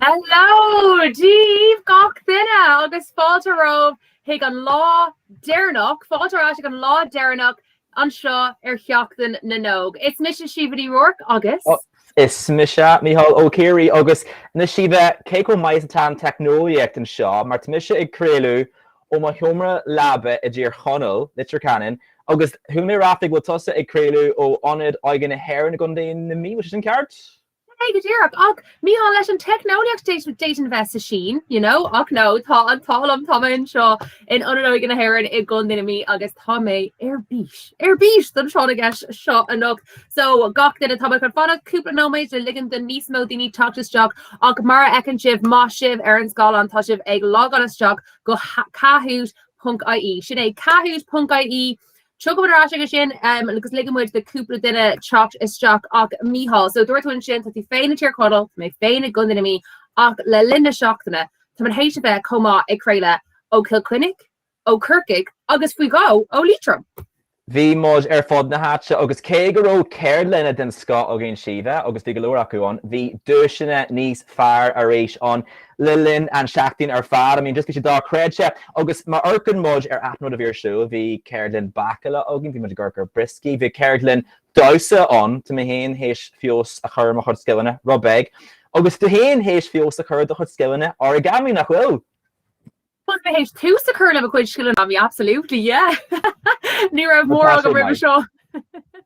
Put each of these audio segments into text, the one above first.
Hello! Dia dhaoibh gach duine agus fáilte romhaibh chuig an lá deireanach, fáilte ar ais ag an lá deireanach anseo ar Sheachtain na nÓg. Is mise Síomha Ní Ruairc agus? Is mise Mícheál Ó Ciaraidh agus now Síomha, cé chomh maith is atá an teicneolaíocht anseo mar tá mise ag craoladh ó mo sheomra leaba i dTír Chonaill, Leitir Ceanainn, agus chuala mé ráflaí go bhfuil tusa ag craoladh ó Ionad Óige na hÉireann i gContae na Mí, an bhfuil sé sin ceart? Sin é go díreach. Ach, Mícheál, leis an teicneolaíocht d'fhéadfainn a bheith sa tSín, you know, ach no, tá an t-ádh liom, tá mé anseo in Ionad Óige na hÉireann i gContae na Mí agus tá mé ar bís, ar bís don tráth na gceist seo anocht. So, gach duine, tá mé chun fanacht cúpla nóiméad le ligean do níos mó daoine teacht isteach ach mar a fheiceann sibh, má sibh ar an scáileán, tá sibh ag logáil isteach go Kahoot. Ponc IE. Sin é Kahoot. Ponc IE. Tiocfaidh muid ar ais aige sin agus ligfidh muid do cúpla duine teacht isteach ach Mícheál. So dúirt tú ansin tá tú féin i dTír Chonaill, tá mé féin i gContae na Mí ach le linn na seachtaine tá muid théis a bheith chomh maith ag craoladh ó Chill Chainnigh, ó Corcaigh agus faoi dhó ó Liatroim. Bhí muid ar fud na háite agus cé go raibh ceardlanna den scoth againn Síomha agus bhí go leor acu ann, bhí duaiseanna níos fearr arís ann. Le linn an tseachtain ar fad, I mean just bhí sé dochreidte, agus má amharcann muid ar achan rud a bhí ar siúl, bhí ceardlann bácála againn, bhí muid ag amharc ar brioscaí, bhí ceardlann damhsa ann, tá mé féin théis feabhas a chur ar mo chuid scileanna, robot, agus tú féin théis feabhas a chur ar do chuid scileanna, origamí, nach bhfuil? Bhuel b'fhéidir tús a chur le mo chuid scileanna a bhí absolutely yeah ní raibh mórán agam roimhe seo.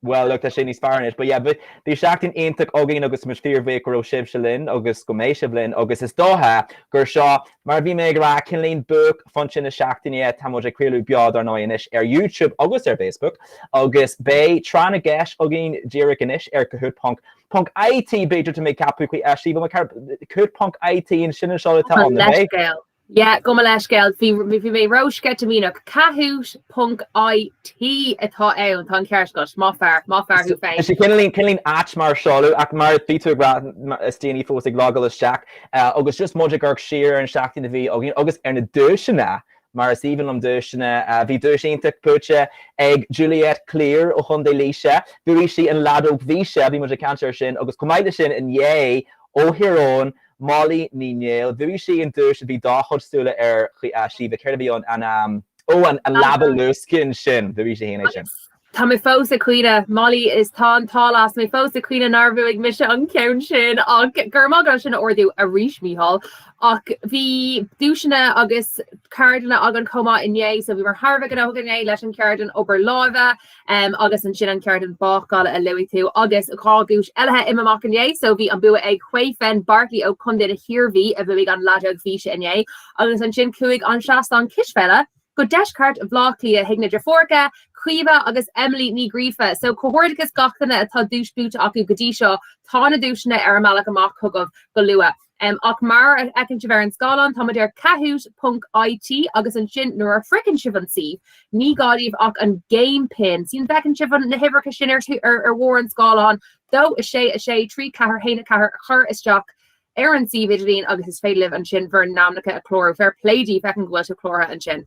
Bhuel look tá sé níos fearr anois, but yeah bhí seachtain iontach againn agus muid fíorbhuíoch go raibh sibhse linn agus go mbeidh sibh linn agus is dócha gur seo mar a bhí mé ag rá cineáilín buaicphointe na seachtaine tá muid ag craoladh beo dar ndóigh anois ar YouTube agus ar Facebook agus beidh Tráth na gCeist againn díreach anois ar Kahoot ponc ponc IT b'fhéidir tá mé ag ceapadh faoi fheistíbal mar ceathrar Kahoot ponc IT an sin an seoladh atá ann, nach ea? Yeah, gabh mo leithscéal, bhí bhí mé ró sceitimíneach. Kahoot ponc IT atá ann, tá an ceart agat, maith fear, maith fear thú féin. Is cineáilín cineáilín ait mar seoladh ach mar bhí tú ag rá is daoine fós ag logáil isteach eh, agus just muid ag amharc siar ar an seachtain a bhí againn agus ar na duaiseanna mar is aoibhinn liom duaiseanna a bhí duais iontach buaite ag Juliet Clear ó Chontae Laoise. Bhuaigh sí an leadóg bhí sé, bhí muid ag caint ar sin agus chomh maith leis sin inné ó Thír Eoghain Molly Ní Néill. Bhuaigh sí an duais a bhí do chuid súile air Síomha, céard a bhí ann? an, ó, an leaba luascáin sin, bhuaigh sí féin é sin. Tá mé fós ag caoineadh. Molly is tá an t-ádh leat, tá mé fós ag caoineadh nár bhuaigh mise an ceann sin ach go raibh maith agat as sin a ardú arís Mícheál. Ach bhí duaiseanna agus ceardlanna againn chomh maith inné so bhíomar thar a bheith gnóthach inné leis an cheardlann obair láimhe, Agus ansin an cheardlann bácála a luaigh tú agus dhá dhuais eile imithe amach inné. So bhí an bua ag Caoimhín Barkley ó Contae na hIarmhí a bhuaigh an leadóg físe inné agus ansin chuaigh an seastán cispheile go deisceart Bhleá Cliath chuig na deirfiúracha, Caoimhe agus Emily Ní Ghríofa. So comhghairdeachas gach duine atá duais buaite acu go dtí seo, tá na duaiseanna ar a mbealach amach chugaibh go luath. Um, ach mar a fheiceann sibh ar an scáileán, tá muid ar kahoot.it agus ansin nuair a shroicheann sibh an suíomh, ní gá daoibh ach an game pin. Sin bhfeiceann sibh an- na huimhreacha sin ar thú- ar- ar bharr an scáileáin, dó, a sé, a sé, trí, ceathair, haon, a ceathair, a chur isteach ar an suíomh idirlín agus is féidir libh ansin bhur n-ainmneacha a chlárú. Fair play daoibh, feicim go bhfuil sibh cláraithe ansin.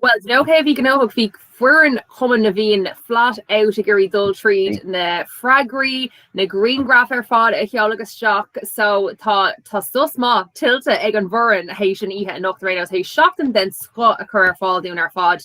Bhuel, d'you know cé a bhí gnóthach, bhí foireann Chumann na bhFiann flat out ag iarraidh dul tríd na freagraí, na grianghraif ar fad a sheoladh isteach so tá tá sos maith tuillte ag an bhfoireann théis an oíche anocht ar aon nós, théis seachtain den scoth a chur ar fáil dúinn ar fad.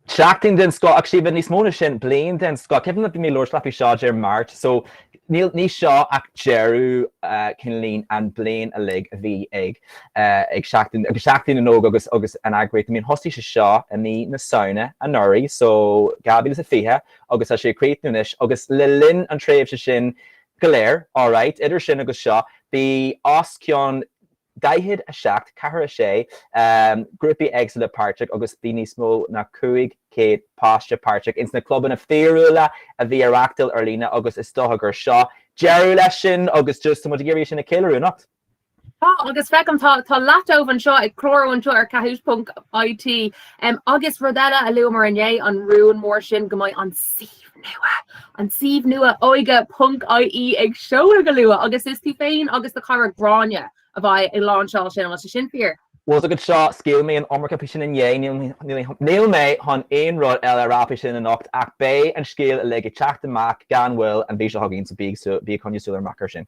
Seachtain den scoth, ach Síomha, níos mó ná sin, bliain den scoth. Ceapaim nach mbeidh mé ag labhairt leat faoi seo Dé Máirt so Níl ní seo ach deireadh cineál an bhliain uilig a bhí ag ag seachtain agus Seachtain na nÓg agus agus an eagraíocht I mean thosaigh sé seo i mí na Samhna anuraidh so 2020 agus tá sé ag críochnú anois agus le linn an tréimhse sin go léir alright idir sin agus seo bhí os cionn 47, 4, 6, grúpaí éagsúla páirteach agus bhí níos mó ná 500 páiste páirteach ins na clubanna fíorúla a bhí á reáchtáil ar líne agus is dócha gur seo deireadh leis sin agus just tá muid ag iarraidh sin a cheiliúradh, anocht. Tá, agus feicim tá tá leath an domhain anseo ag clárú anseo ar Kahoot.it, agus rud eile a luamar inné, an rún mór sin go mbeidh an. suíomh nua an suíomh nua óige.ie ag seoladh go luath agus is tú féin agus do chara Gráinne a bheidh ag láinseáil sin agus sin fíor. Bhfuil a fhios agat seo? Scaoil mé an iomarca faoi sin inné, níl mé chun aon rud eile a rá faoi sin anocht ach beidh an scéal uilig ag teacht amach gan mhoill an mhí seo chugainn so bí ag coinneáil súil ghéar amach ar sin.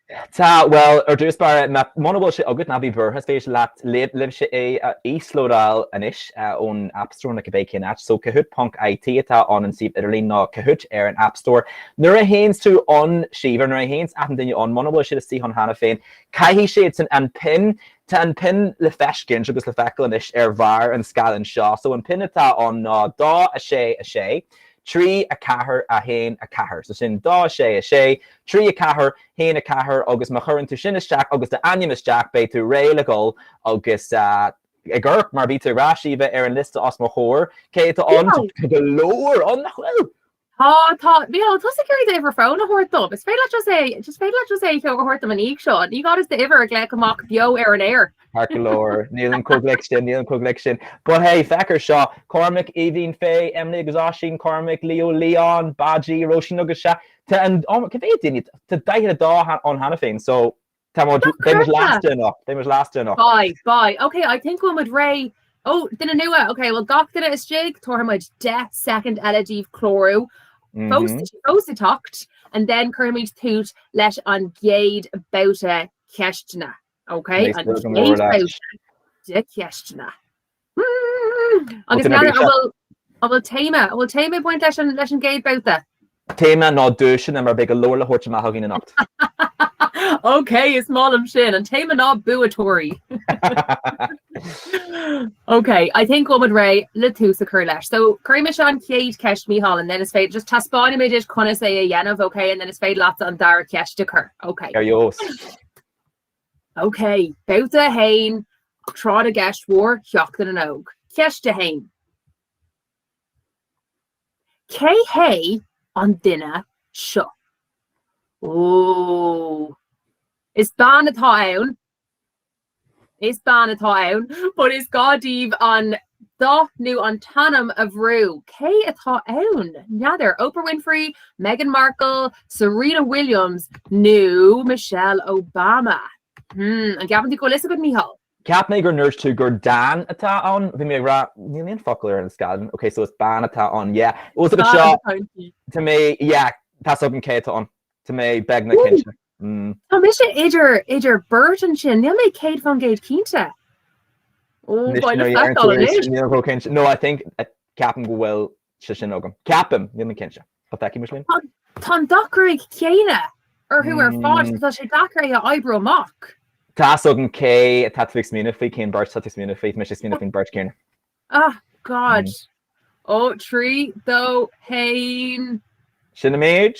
Tá, bhuel, ar dtús báire, muna bhfuil sé agat, ná bí buartha, is féidir leat, libh, libhse é a íoslódáil anois ón App Store nó cibé cén áit. So, Kahoot ponc IT atá ann, an suíomh idirlín, nó Kahoot ar an App Store. Nuair a théanns tú ann, Síomha, nuair a théanns achan duine ann, muna bhfuil siad istigh ann cheana féin, caithfidh siadsan an pin, tá an pin le feiscint agus le feiceáil anois ar bharr an scáileáin seo. So, an pin atá ann ná dó a sé a sé, trí a ceathair a haon a ceathair. So sin dó a sé a sé, 3, 4, 1, 4, Agus má chuireann tú sin isteach agus d'ainm isteach beidh tú réidh le dhul agus gheobhaidh tú é mar bhí tú ag rá Síomha ar an liosta os mo chomhair. Cé atá ann? Tá go leor ann, nach bhfuil? Tá, tá. Mícheál, tosaigh ar an uimhir fóin a thabhairt dom. Is féidir leat just é, just féidir leat just é a thabhairt dom in ísc seo. Ní gá just d'uimhir a ghlaoch amach beo ar an aer. Tá go leor. Nílim chomh gealgháireach sin, nílim chomh gealgháireach sin. But hey, féach air seo, Cormac, Aoibhín, Faye, Emily agus Oisín, Cormac, Leo, Leon, Baji, Róisín agus Sea, Tá an, oh my, cad é duine? Tá daichead duine ann cheana féin, so tá muid, Stop beidh muid cursa! last year enough, beidh muid last year enough. Bye, bye. Ok, I think go bhfuil muid réidh. Ó, duine nua! Ok, bhuel gach duine istigh, tabharfaidh muid deich soicind eile daoibh clárú fós Mhm. is fós ag teacht, and then cuirfimid tús leis an gcéad babhta ceisteanna. Ok, Nice, an chéad babhta de cheisteanna. Agus n'fheadar an bhfuil, an bhfuil téama, an bhfuil téama ag baint leis an, leis an gcéad babhta? An téama ná duaiseanna mar beidh go leor le thabhairt amach againn anocht. OK, is maith liom sin. An téama ná buaiteoirí. OK, I think go bhfuil muid réidh le tús a chur leis. So, cuirfidh mise an chéad cheist, Micheál, and then is féidir, just taispeánfaimid duit conas é a dhéanamh, OK, and then is féidir leatsa an dara ceist a chur. OK. Ar dheos. OK, Babhta 1, Ag Tráth na gCeist Mhór, Sheachtain na nÓg. Ceist 1. Cé hé an duine seo? Ooh. Is bean atá ann. Is bean atá ann. But is gá daoibh an dath nó an t-ainm a bhrú? Cé atá ann? N'fheadar, Oprah Winfrey, Meghan Markle, Serena Williams nó Michelle Obama? Hmm, an gceapann tú go bhfuil fhios agat, Micheál? Cheap mé go ndúirt tú gur dán atá ann. Bhí mé ag rá, níl aon focal ar an scáileán. Ok, so is bean atá ann. Yeah, fhios agat seo, tá mé, yeah, tá 's agam cé atá ann. Tá mé beagnach cinnte. Tá mise idir idir beirt ansin, níl mé céad fán gcéad cinnte. Ó, Anois nuair a dhéanann tú feiceáil é, anois. níl chomh cinnte. No, I think, ceapaim go bhfuil sé sin agam. Ceapaim, níl mé cinnte. An bhfeicfidh muis linn? Tá an gruaig chéanna orthu ar fad agus tá sé deacair é a oibriú amach. Tá's agam cé atá tú ag smaoineamh faoi, cén beirt atá tú ag smaoineamh faoi. Tá mise ag smaoineamh faoin beirt chéanna. Ah, God. Ó, trí, dó, haon. Sin an méid.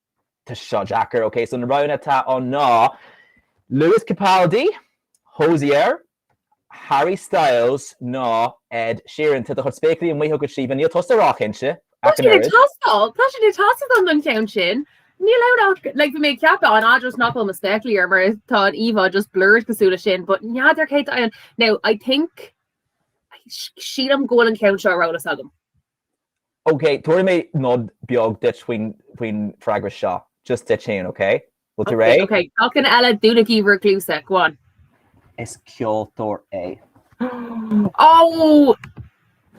Tá seo deacair, ok, so na roghanna atá ann ná Lewis Capaldi, Hozier, Harry Styles nó Ed Sheeran. Tá do chuid spéaclaí amuigh agat, Síomha, níl tusa róchinnte, Tá siad ag teastáil, tá siad ag teastáil uaim don cheann sin. Níl ann ach, like, bhí mé ag ceapadh, an ea, just nach bhfuil mo spéaclaí orm mar tá an íomhá just blurred cosúil leis sin, but n'fheadar cé atá ann. Now, I think, sílim go bhfuil an ceann seo ar eolas agam. Okay, tabharfaidh mé nod beag duit faoin freagra seo, just duit féin, okay? Bhfuil tú réidh? Okay, achan duine eile dúnaigí bhur gcluasa, go on. Is ceoltóir é. Oh!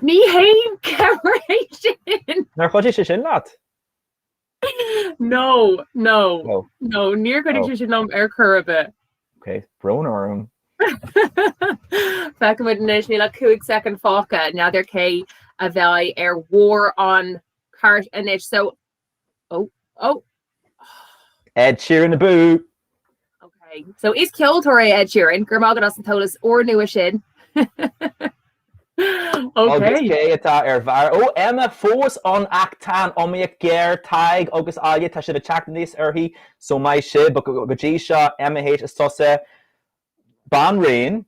Ní haon cabhair é sin! Nár chuidigh sé sin leat? No, no, No. no, níor chuidigh sé sin liom ar chor ar bith. Ok, brón orm. Feicfimid anois, níl ach cúig soicind fágtha, n'fheadar cé a bheidh ar bharr an chairt anois, so, oh, oh. Ed Sheeran abú! Okay. So is ceoltóir é Ed Sheeran, go raibh maith agat as an eolas úr nua sin. Agus cé atá ar bharr? Ó Emma fós ann ach tá an iomaíocht géar, Tadhg agus Áille, tá siad ag teacht aníos uirthi, so maith sibh. But go dtí seo, Emma H is tusa, banríon,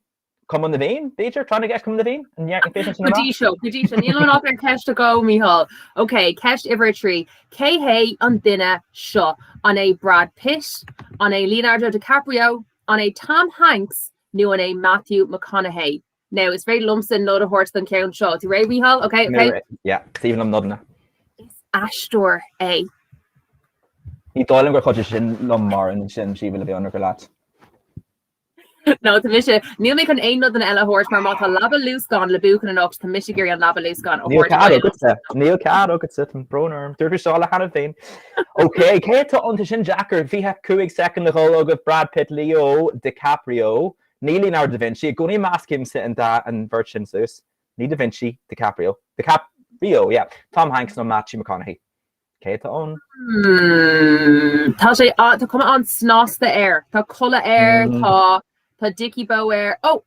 Cumann na bhFiann, b'fhéidir? Clann i gceist Cumann na bhFiann? An ndearna féachaint sin Go amach? dtí seo, go dtí seo. Níl ann ach ceist a dó, Micheál. Ok, ceist uimhir a trí. Cé hé an duine seo? An é Brad Pitt? An é Leonardo DiCaprio? An é Tom Hanks? Nó an é Matthew McConaughey? Now, is féidir liomsa nod a thabhairt don cheann seo. Tú réidh, Micheál? Ok, Mé ok. réidh. Yeah, is maith liom nodanna. Is aisteoir é. Ní dóigh liom gur chuidigh sin liom, mar sin, shíl mé go mbeadh an rogha leat. No, tá mise. Níl mé chun aon nodanna eile a thabhairt mar má tá leaba luascán le buachan anocht tá mise ag iarraidh an leaba luascán a Níl thabhairt cead uait. agatsa, níl cead agatsa, tá brón orm. Dúirt mé seo le hAnna féin. OK, cé atá ann? Tá sin deacair? 25 soicind a dhul agaibh, Brad Pitt, Leo DiCaprio, ní Leonardo da Vinci, i gcónaí meascaimse an dá an bheirt sin suas, ní da Vinci, DiCaprio, DiCap, rio, yeah, Tom Hanks nó Matthew McConaughey. Cé atá ann? Mmm. Tá sé a- tá cuma an-snasta air. Tá culaith air, Mm. tá tá dici bó air. Ó!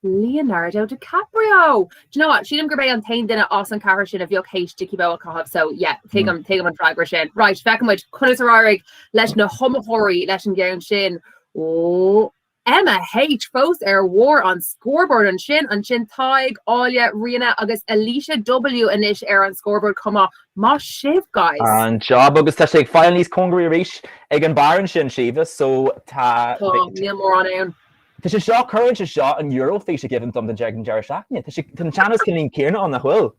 Leonardo DiCaprio! Do you know what? Sílim gurb é an t-aon duine as an ceathrar sin a bheadh théis dici bó a chaitheamh so yeah, tuigim tuigim an freagra sin. Right, feicfimid conas ar éirigh leis na hiomaitheoirí leis an gceann sin. Ó! Emma H. fós ar bharr an scoreboard ansin, ansin Tadhg, Áille, Ríona agus Alicia W. anois ar an scoreboard chomh maith. Maith sibh guys! An-jab agus tá sé ag fáil níos cóngaraí arís ag an barr ansin Síomha so tá Tá, níl mórán ann. Tá sé seo, cuireann sé seo an Eoraifís i gcuimhne dom don deireadh an deireadh seachtaine. Tá sé, tá an teannas cineál céanna ann nach bhfuil?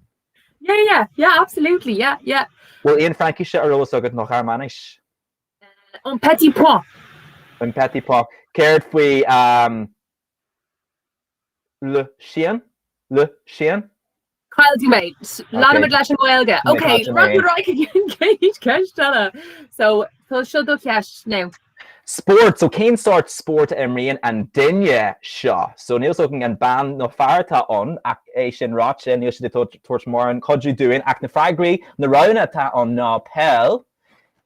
Yeah yeah yeah absolutely yeah yeah. Bhfuil aon Fraincis ar eolas agat nó Ghearmáinis? Un petit point. Un petit point. Céard faoi le Síon? le Síon? Chaill tú mé. Leanfaimid leis an nGaeilge. Ok, rug na raidhce den chéid. Ceist eile. So, is í seo do cheist now. Spórt. So, cén sórt spóirt a imríonn an duine seo? So, níl fhios againn an bean nó fear atá ann, ach é sin ráite, níl siad ag tabhairt mórán cuidiú dúinn. Ach na freagraí, na roghanna atá ann ná peil,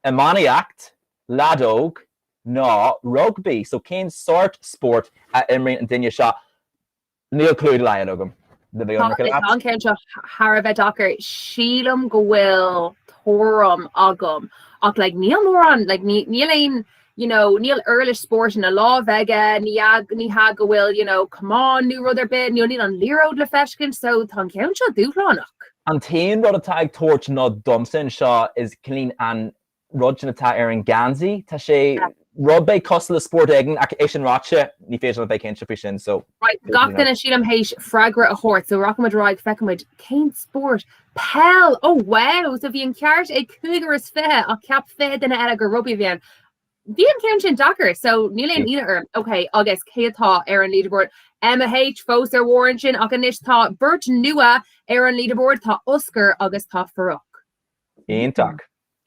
Iománaíocht, leadóg ná rugbaí. So cén sórt spóirt a imríonn an duine seo? Níl clue dá laghad agam. Do bheadh an micil agat. Tá an ceann seo thar a bheith deacair. Sílim go bhfuil tuairim agam ach like níl mórán like níl aon you know, níl uirlis spóirt ina láimh aige, ní hea go bhfuil, you know, camán nó rud ar bith, you know, níl an liathróid le feiscint, so tá an ceann seo dúshlánach. An t-aon rud atá ag tabhairt nod domsa anseo is ea an rud sin atá ar an geansaí, tá sé, rud beag cosúil le spórt éigin ach é sin ráite ní féidir liom bheith cinnte faoi sin so. Right, gach duine sílim th'éis freagra a thabhairt so rachaimid ar aghaidh, feicimid cén spórt Peil! Ó wow! So bhí an ceart ag 25 ach ceap 20 duine eile gur rugbaí a bhí ann. Bhí an ceann sin deacair so níl aon ionadh orm. Ok agus cé atá ar an leaderboard? Emma H, fós ar bharr ansin ach anois tá beirt nua ar an leaderboard, tá Oscar agus tá Farrukh. Iontach!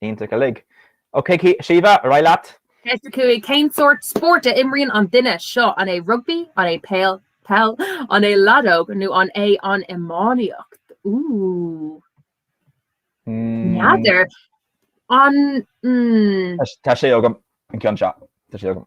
Iontach uilig. Ok Síomha, ar aghaidh leat. Ceist a cúig, Cén sórt spóirt a imríonn an duine seo? An é rugbaí, an é peil, an é leadóg nó an é an iománaíocht? N'fheadar. Tá sé agam an ceann seo. Tá sé agam.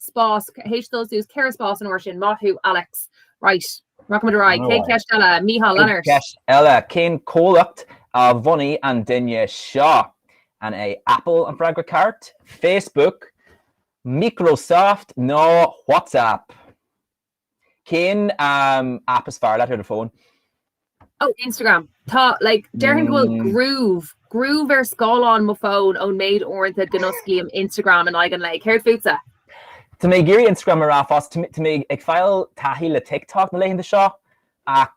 spás ag dul suas ceithre spás an uair sin maith thú Alex Right Rachaidh muid ar aghaidh chuig ceist eile? Micheál Leonard. Ceist eile Cén comhlacht a bhunaigh an duine seo? An é Apple an freagra ceart, Facebook, Microsoft nó WhatsApp? Cén app is fearr leat ar do phone? Oh Instagram. Tá like déarfainn go bhfuil groove groove ar scáileán mo phone ón méid uaireanta go n-osclaím Instagram in aghaidh an lae. Céard fútsa? Tá mé ag iarraidh Instagram a rá fosta. Tá mé ag fáil taithí le TikTok na laethanta seo ach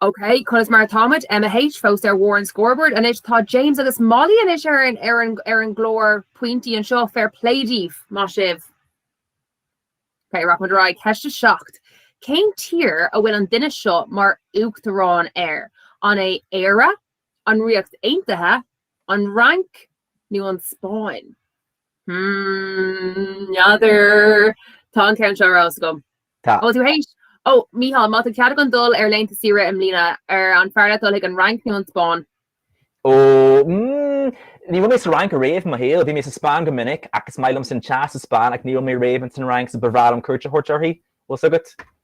OK, conas mar atáimid? Emma H, fós ar bharr an scoreboard anois. Tá James agus Molly anois ar an, ar an, ar an gclár pointí anseo fair play díobh, maith sibh. OK rachaimid ar aghaidh ceist a seacht. Cén tír a bhfuil an duine seo mar uachtarán air, an é Éire, an Ríocht Aontaithe, an Fhrainc nó an Spáinn? Hmm, n'fheadar. Tá an ceann seo ar fheabhas agam. Tá. Ó, tú th'éis. Ó, Micheál, má tá cead againn dul ar laethanta saoire i mbliana, ar an fearr leat dul chuig an Fhrainc nó an Spáinn? Ó, mm, ní raibh mé sa Fhrainc ariamh i mo shaol. Bhí mé sa Spáinn go minic ach is maith liomsa an teas sa Spáinn ach ní raibh mé riamh ins an Fhrainc so ba bhreá liom cuairt a thabhairt uirthi. Bhfuil fhios agat?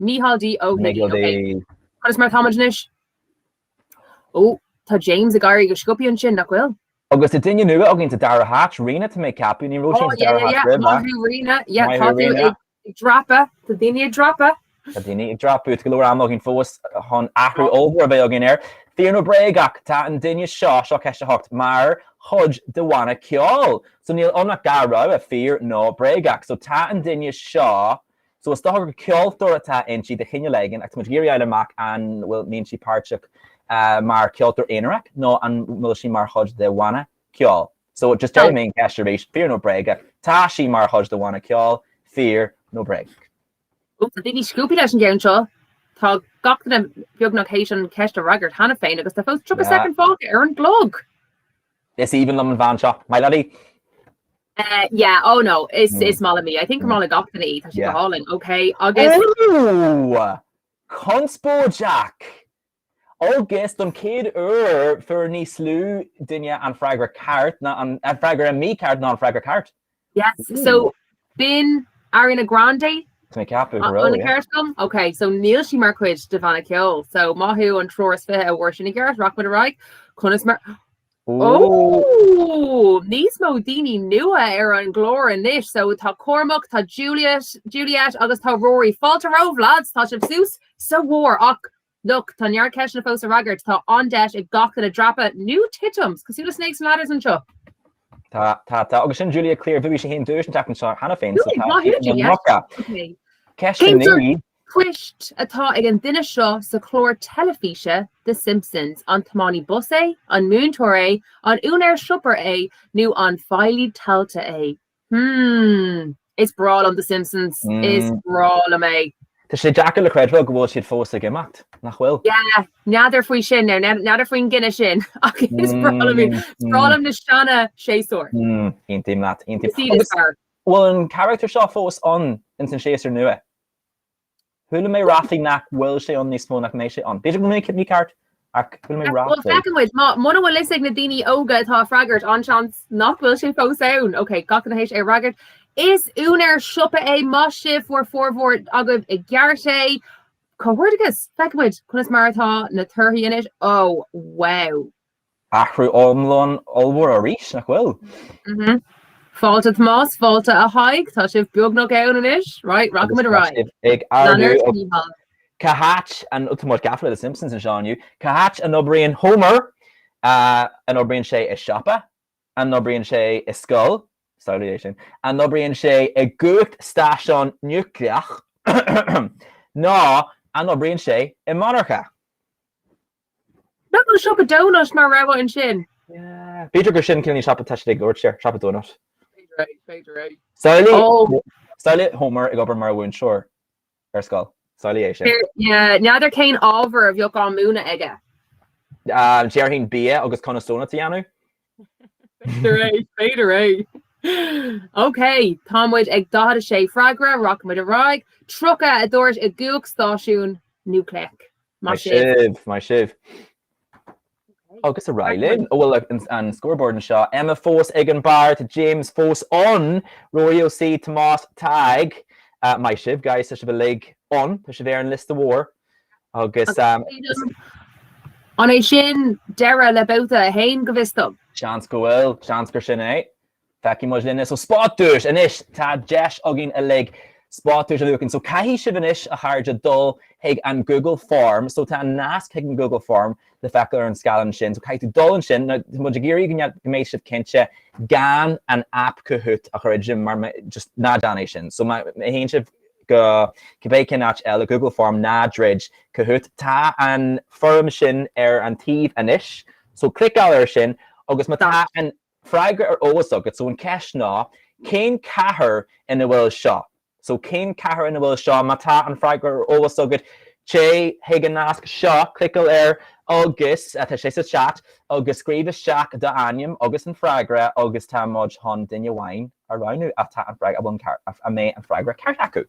Mícheál D. Ó hUigínn, Micheal D. OK. Conas mar atá muid anois? Ó, tá James ag éirí go sciobtha ansin, nach bhfuil? Agus tá duine nua againn sa dara háit, Ríona, tá mé ag ceapadh. Ní raibh sí sa dara háit roimhe. Maith thú, Ríona. Yeah, tá tú ag dreapadh. Tá daoine ag dreapadh. Tá daoine ag dreapadh. Tá go leor ama againn fós chun athrú ollmhór a bheith againn air. Fíor nó bréagach, tá an duine seo, seo ceist a hocht, mar chuid de bhanna ceoil. So níl ann ach dhá rogha, fíor nó bréagach. So tá an duine seo So is dócha gur ceoltóir atá inti de chineál éigin agus muid ag iarraidh a fháil amach an mbíonn sí páirteach mar cheoltóir aonarach nó an bhfuil sí mar chuid de bhanna ceoil. So just déarfaidh mé an cheist arís, fíor nó bréagach, tá sí mar chuid de bhanna ceoil, fíor nó bréagach? Ó, tá daoine sciobtha leis an gceann seo. Tá gach duine beagnach th'éis an cheist a fhreagairt cheana féin agus tá fós 30 soicind fágtha ar an gclog! Is aoibhinn liom an bhean seo. My lady. Eh yeah oh no is is maith liom í. I think gur maith le gach duine í, tá sí go hálainn. Ok agus. Ooh! Conspóid Jack! Agus don chéad uair fuair níos lú daoine an freagra ceart ná an, an freagra mícheart ná an freagra ceart. Yes, so Ooh. b'in Ariana Grande Tá mé ceaptha go an raibh, an yeah. ceart agam? Ok, so níl sí mar chuid de bhanna ceoil. So maith sibh an triúr is fiche a fuair sin i gceart, rachaidh muid ar aghaidh. Conas mar... Ooh, níos mó daoine nua ar an gclár anois. So tá Cormac, tá Juliet, Juliet agus tá Rory. Fáilte romhaibh lads, tá sibh suas sa bharr ach Look, tá neart ceisteanna fós le freagairt. Tá an-deis ag gach duine dreapadh nó titim, cosúil le snakes and ladders anseo. Tá, tá, tá. Agus sin Julia Clear, bhuaigh sí féin duais an tseachtain seo cheana féin, so tá sí ina muca. Ceist a naoi. Cén post atá ag an duine seo sa chlár teilifíse The Simpsons, an tiománaí bus é, an múinteoir é, an úinéir siopa é nó an feighlí tailte é? Hmmm. Is breá liom The Simpsons. Is breá liom é. Tá sé deacair le creidbheáil go bhfuil siad fós ag imeacht, nach bhfuil? Yeah. N'fheadar faoi sin now. N'fheadar faoin gcinneadh sin. Ach is breá liom iad. Is breá liom na seanshéasúir. Mmm. Aontaím leat. Aontaím. Agus bhfuil an carachtar seo fós ann ins an séasúr nua? Chuala mé ráflaí nach bhfuil sé ann níos mó nach mbeidh sé ann. B'fhéidir go mbeidh sibh mícheart ach chuala mé ráflaí. Bhuel, feicfidh muid. Mura bhfuil fhios ag na daoine óga atá ag freagairt, an-seans nach bhfuil sé fós ann. Ok, gach duine th'éis é a fhreagairt. Is úinéir siopa é muise, fuair formhór agaibh i gceart é. Comhghairdeachas! Feicfidh muid conas mar atá na torthaí anois. Ó, wow! Athrú iomlán ollmhór arís, nach bhfuil? Mhm. Fáilte Tomás, fáilte a Thaidhg, tá sibh beagnach ann anois, right, raghaimid ar aghaidh. Ag ardú, a Mhichíl. Cá háit an, tá muid gafa le The Simpsons anseo inniu, cá háit a n-oibríonn Homer? An oibríonn sé i siopa? An oibríonn sé i scoil? Samhlaigh é sin. An oibríonn sé i gcumhacht stáisiún núicléach? Nó an oibríonn sé i monarcha? Nach bhfuil Siopa Donut mar rogha ansin? B'fhéidir gur sin ceann siopa, is dóigh, a dúirt sé, Siopa Donut. B'fhéidir é, b'fhéidir é. Samhlaigh, samhlaigh Homer ag obair mar mhúinteoir ar scoil. Samhlaigh é sin. N'fheadar cén ábhar a bheadh á mhúineadh aige. Déarfainn bia agus conas donuts a dhéanamh. B'fhéidir é, b'fhéidir é. OK, tá muid ag 46 freagra, rachaidh muid ar aghaidh. 30 a dúirt i gcumhacht stáisiún núicléach. Maith sibh. Maith sibh. Agus ar aghaidh linn. Ó bhuel, an scoreboard anseo, Emma fós ag an barr, tá James fós ann, Ruairí Ó C, Tomás, Tadhg, maith sibh, Gaius, tá sibh uilig ann, tá sibh ar an liosta mór. Agus is. An é sin deireadh le babhta 1, go bhfios dom? Seans go bhfuil, seans gur sin é. Feicfidh muid linne. So spot duais anois! Tá deis againn uilig spot duais a bhuachan. So caithfidh sibh anois, a chairde, dul chuig an Google Form. So tá nasc chuig an Google Form le feiceáil ar an scáileán sin. So caithfidh tú dul ansin. Now, tá muid ag iarraidh go mbead, go mbeidh sibh cinnte gan an app Kahoot a dhruidim mar, just ná déan é sin. So má théann sibh go cibé cén áit eile Google Form ná druid Kahoot. Tá an fhoirm sin ar an taobh anois so cliceáil air sin agus má tá an freagra ar eolas agat so an cheist ná cén chathair ina bhfuil seo? so cén chathair ina bhfuil seo? Má tá an freagra ar eolas agat téigh chuig an nasc seo, cliceáil air agus tá sé sa chat agus scríobh isteach d'ainm agus an freagra agus tá muid chun duine amháin a roghnú atá an freagra amháin ceart, a mbeidh an freagra ceart acu.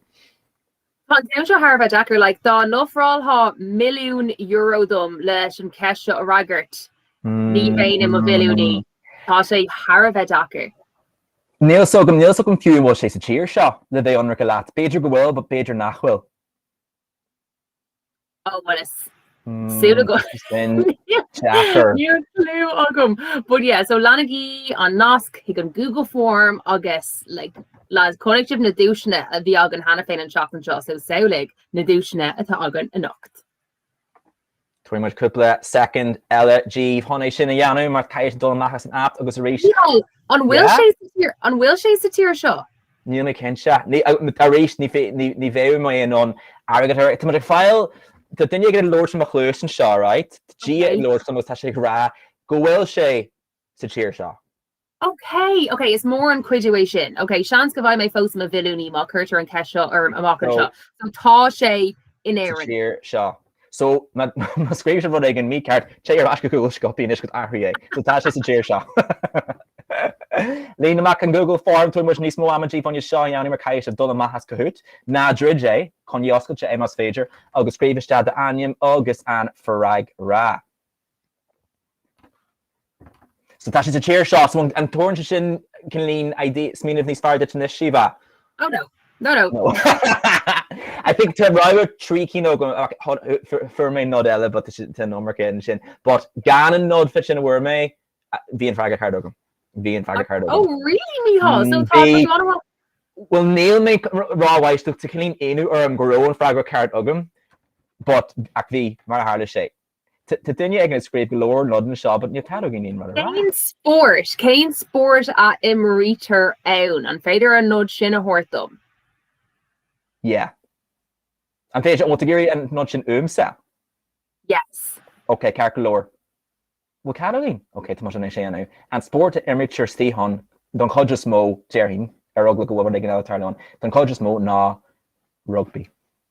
Tá an ceann seo thar a bheith deacair, like, dá n-ofráilfeá milliún euro dom leis an cheist seo a fhreagairt, ní bheinn i mo mhilliúnaí. Tá sé thar a bheith deacair. Níl fhios agam, níl fhios agam fiú an bhfuil sé sa tír seo le bheith ionraice leat. B'fhéidir go bhfuil, but b'fhéidir nach bhfuil. Ámhais. Níl fhios agam. Sin deacair. Níl clú agam. But yeah, so leanaigí an nasc chuig an Google form agus like, lads, chonaic sibh na duaiseanna a bhí againn cheana féin an tseachtain seo, so samhlaigh na duaiseanna atá againn anocht. Tabharfaidh muid cúpla soicind eile daoibh chun é sin a dhéanamh mar tá sibh ag dul amach as an aip agus ar ais. Ciall, an bhfuil Yeah. sé sa tír, an bhfuil sé sa tír seo? Níl mé cinnte. Arís, ní bheadh mé in ann airgead a. Tá muid ag fáil, tá duine ag labhairt ar mo chluas anseo, right, tá Dia ag labhairt liom agus tá sé ag rá go bhfuil sé sa tír seo. Ok, ok, is mór an cuidiú é sin. Ok, seans go mbeidh mé fós i mo mhilliúnaí má cuirtear an cheist seo orm amach anseo. So tá sé in Éirinn. Sa tír seo. So, má scríobh sé rud éigin mícheart, téigh ar ais go Google sciobtha anois agus athraigh é. So tá sé sa tír seo. Líon amach an Google Form, tabharfaidh muid níos mó ama daoibh anois seo a dhéanamh mar caithfidh sibh dul amach as Kahoot, ná druid é, coinnigí oscailte é más féidir, agus scríobh isteach d'ainm agus an freagra. So tá sé sa tír seo. So an dtugann sé sin, Caoimhlín, aon smaoineamh níos fearr duit anois, Síomha? Oh no. No no. No. I think tá rogha trí cinn agam, ach fuair mé nod eile but tá sé tá an iomarca ansin. But gan an nod fiú sin a fuair mé, bhí an freagra ceart agam. Bhí an freagra ceart agam. Oh really, Micheál? So tá Bhí. tá an Well níl mé c- r- rómhaíteach, tá cineál ionadh orm go raibh an freagra ceart agam, but ach bhí, mar a tharla sé. Tá duine ag scríobh go leor nodanna anseo but níl cead againn aon rud a rá. Cén spórt? Cén spórt a imrítear ann? An féidir an nod sin a thabhairt dom? Yeah. An féidir? An bhfuil tú ag iarraidh an nod sin uaimse? Yes. Ok, ceart go leor. Bhfuil cead againn? Ok, tá muid in ann é a dhéanamh. An spórt a imrítear sa suíochán, don chuid is mó, déarfainn, ar eagla go bhfuil rud éigin eile ag tarlú ann, don chuid is mó ná rugbaí.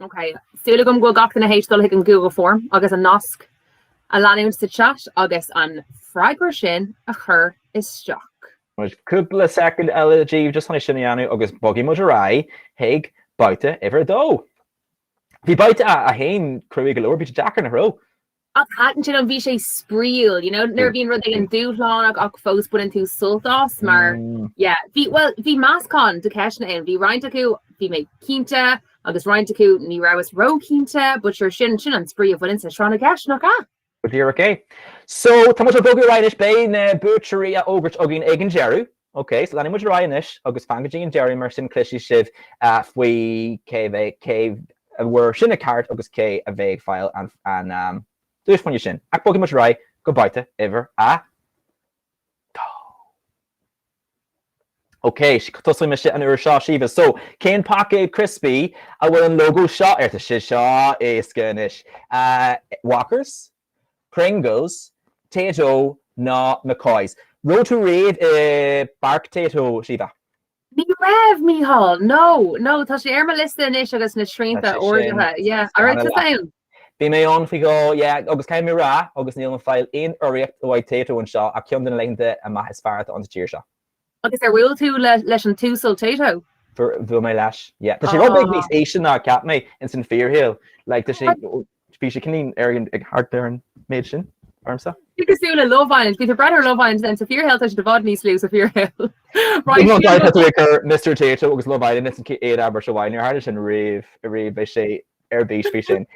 Súil agam go bhfuil gach duine théis dul chuig an Google Form agus an nasc a leanúint sa chat agus an freagra sin a chur isteach. Cúpla soicind eile daoibh just chun é sin a dhéanamh agus bogfaidh muid ar aghaidh chuig babhta uimhir a dó. Bhí babhta a haon cruaidh go leor, bhí sé deacair a dhóthain. Ach thaitin sin an bhí sé spraíúil, you know, nuair a bhíonn rud éigin dúshlánach ach fós baineann tú sult as mar yeah. Bhí, bhuel, bhí meascán de cheisteanna ann, bhí roinnt acu bhí mé cinnte agus roinnt acu ní rabhas ró-chinnte but sure sin, sin an spraoi a bhaineann le Tráth na gCeist, nach ea? Go díreach é. So, tá muid ag bogadh ar aghaidh anois, beidh na buaiteoirí á bhfógairt againn ag an deireadh. Ok, so leanfaidh muid ar aghaidh anois agus fan go dtí an deireadh mar sin cloisfidh sibh faoi cé bheidh, cé a fuair sin i gceart agus cé a bheidh ag fáil an duais bhinne sin. Ach bogfaidh muid ar aghaidh go babhta uimhir a dó. Ok, tosóidh mise an uair seo Síomha. So, cén paicéad criospaí a bhfuil an lógó seo air? Tá sé seo éasca anois. Walkers? Pringles, Tayto ná McCoys. Raibh tú riamh i bPáirc Tayto, Síomha? Ní raibh, Mícheál, no, no, tá sé ar mo liosta anois agus na srianta ardaithe, yeah, an raibh tú ann? Bhí mé ann faoi dhó, yeah, agus caithfidh mé a rá, agus níl mé ag fáil aon urraíocht ó Tayto anseo ach ceann de na laethanta amach is fearr atá ann sa tír seo. Agus ar bhuail tú leis an tUasal Tayto? Bhuail mé leis, yeah. Tá sé rud beag níos ísle ná a cheap mé ins an fíorshaol. Like tá sé, bhí sé cinn ar an, ag thart ar an méid sin ormsa. Bí cosúil le Love Island. Bhí tú ag breathnú ar Love Island then sa fíorshaol tá sé i bhfad níos lú sa fíorshaol. Right Bhí siad mo. Tá tú ag cur Mister Tayto agus Love Island ins an chéad abairt amháin ar tharla sin riamh, riamh, beidh sé ar bís faoi sin.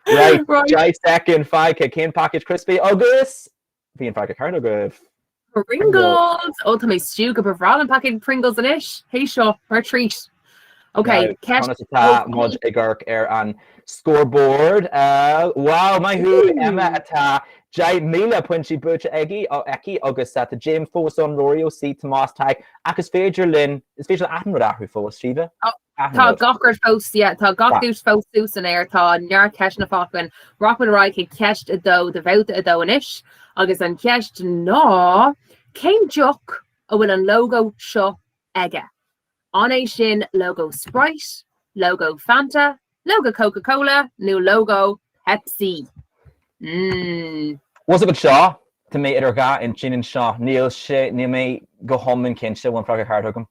Right, Right. Deich second fágtha, cén packet criospaí agus Bhí an freagra ceart agaibh. Pringles! Ó tá mé stiúgtha, ba bhreá liom paicéad Pringles anois! Tar éis seo, mar treat! Ok, Now, conas atá muid ag amharc ar an scoreboard? Wow, maith thú MH, tá deich míle pointí buaite aige, aici agus tá James fós ann, Rory Ó C, Tomás Tadhg, ach is féidir linn, is féidir le haon rud a athrú fós, Síomha. Tá gach rud fós, yeah, tá gach duais fós suas san aer, tá neart ceisteanna fágtha againn. Rachaimid ar aghaidh chuig ceist a dó de bhabhta a dó anois agus an cheist ná, cén deoch a bhfuil an lógó seo aige? An é sin lógó Sprite, lógó Fanta, lógó Coca-Cola nó lógó Pepsi? Mmm. Bhfuil a fhios agat seo? Tá mé idir dhá intinn anseo. Níl sé, níl mé go hiomlán cinnte, bhfuil an freagra ceart agam?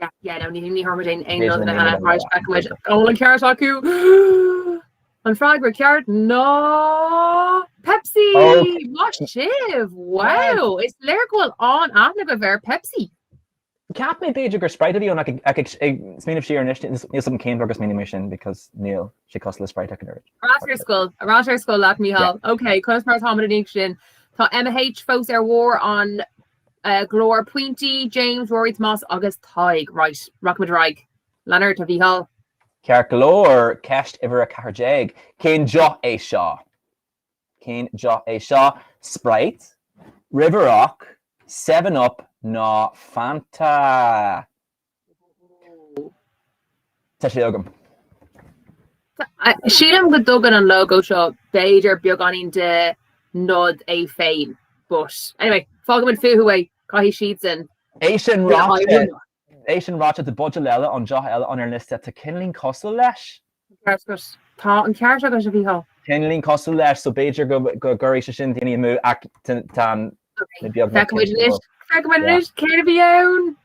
Yeah yeah no ní ní thabharfaimid aon aon nod anseo mar feicfidh muid an bhfuil an ceart acu! An freagra ceart ná Pepsi! Ó! Maith sibh! Wow! Yes! Is léir go bhfuil an-aithne agaibh ar Pepsi! Cheap mé b'fhéidir gur Sprite a bhí ann ach ag ag smaoineamh siar anois níl níl a fhios agam cén fáth ar smaoinigh mé sin because níl sé cosúil le Sprite ach an oiread. Ar ais ar scoil, ar ais ar scoil leat Micheál. Yeah. Ok, conas mar atáimid tar éis sin. Tá MH fós ar bharr an go leor pointí, James, Rory, Tomás agus Tadhg. Right, rachaimid ar aghaidh. Lean ort, a Mhícheáil. Ceart go leor, ceist uimhir 14, cén deoch é seo? Cén deoch é seo? Sprite, River Rock, Seven Up nó Fanta? Tá sé agam. Sílim go dtugann an logo seo b'fhéidir beagáinín de nod é féin, but anyway, fágaimid fúthu é, caithfidh siadsan É sin ráite, é sin ráite, tá buidéal eile ann, deoch eile ann ar an liosta atá cineálín cosúil leis. Tá an ceart agat. Tá an ceart agat, a Mhícheáil. Cineálín cosúil leis so b'fhéidir go gcuirfidh sé sin daoine amú ach tá an leid bheag. Feicfidh muid anois. Feicfidh muid anois céard a bhí ann.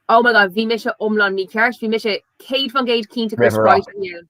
Oh my god, bhí mise iomlán mícheart, bhí mise céad faoin gcéad cinnte gur sprite a bhí ann.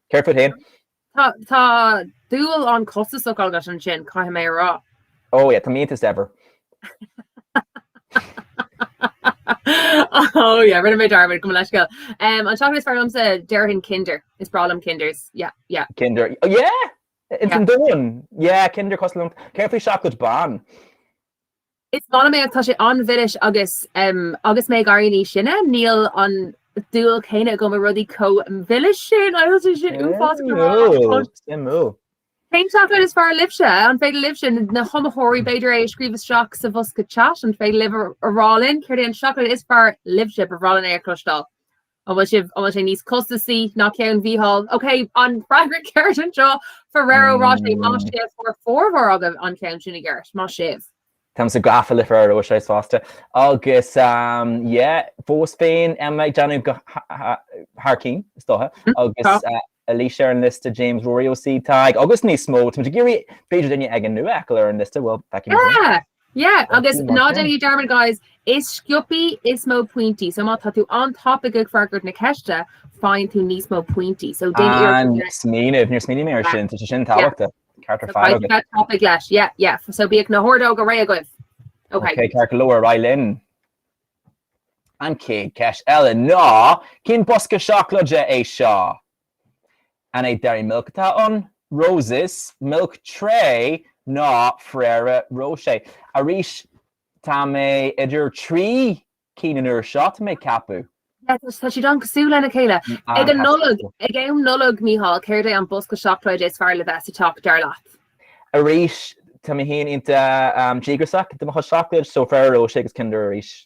Céard fút féin? Tá dúil an-chostasach agat ansin, caithfidh mé a rá. Ó, yeah, tá mé an-daor, as ever. Ó, yeah, rinne mé dearmad, gabh mo leithscéal. An tseacláid is fearr liomsa, déarfainn Kinder. Is breá liom Kinders, yeah, yeah. Kinder, yeah! Ins an domhan! Yeah, Kinder cosúil liom. Céard faoi seacláid bhán? Is maith liom é ach tá sé an-mhilis agus agus mé ag éirí níos sine, níl an dúil céanna agam i rudaí chomh milis sin, atá sé in uafás go mall. Suimiúil! Cén seacláid is fearr libhse? An féidir libhse? Na hiomaitheoirí, b'fhéidir é a scríobh isteach sa bhosca chat, an féidir libh a rá linn céard é an seacláid is fearr libhse? Ba bhreá linn é a chloisteáil. An bhfuil sibh, an bhfuil sé níos costasaí ná ceann Mhícheáil? Ok, an freagra ceart anseo, Ferrero Rocher, maith sibh fuair formhór agaibh an ceann sin i gceart, maith sibh. Táim sách gafa le Ferrero Rocher fosta. Agus yeah, fós féin Emma ag déanamh go thar cinn, is dócha, agus Eilís ar an liosta, James, Ruairí, Ó C. Tadhg agus níos mó, táimid ag iarraidh b'fhéidir duine éigin nua a fheiceáil ar an liosta, bhuel, feicfimid sin. Yeah! Yeah agus ná déan dearmad guys, is sciobtha is mó pointí, so má tá tú an-tapaidh ag freagairt na ceiste, faigheann tú níos mó pointí, so déan iarracht Ah, níor smaoinigh, níor smaoinigh mé ar sin, tá sé sin tábhachtach. Ceart ar fad agaibh. Bí tapaidh leis, yeah, yeah, so bíodh na hordóga réidh agaibh. Ok. Ok, ceart go leor, ar aghaidh linn. An chéad ceist eile ná, cén bosca seacláide é seo? An é Dairy Milk atá ann, Roses, Milk Tray nó Ferrero Rocher. Arís, tá mé idir trí cinn an uair seo, tá mé ag ceapadh. Tá siad an-cosúil lena chéile. Ag an Nollaig, ag am Nollag, Mícheál, céard é an bosca seacláide is fearr le bheith sa teach, dar leat? Arís, tá mé féin iontach díograsach do mo chuid seacláid, so Ferrero Rocher agus Kinder arís.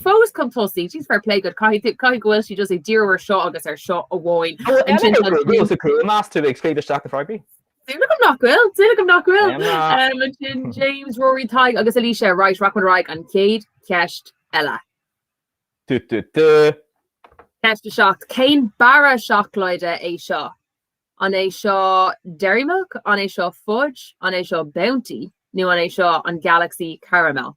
Fós chun tosaigh, jeez fair play duit, caithfidh tú, caithfidh go bhfuil sí just ag díriú ar seo agus ar seo amháin. Ó, Ansin Emma O'Donoghue is í a cruthaigh é, meas tú ag scríobh isteach na freagraí? Súil agam nach bhfuil, súil agam nach bhfuil. Emma! Um, Ansin James, Rory, Tadhg agus Alicia, right, rachaimid ar aghaidh an chéad cheist eile. Du du du. Ceist 7, Cén barra seacláide é seo? An é seo Dairy Milk, an é seo Fudge, an é seo Bounty nó an é seo an Galaxy Caramel?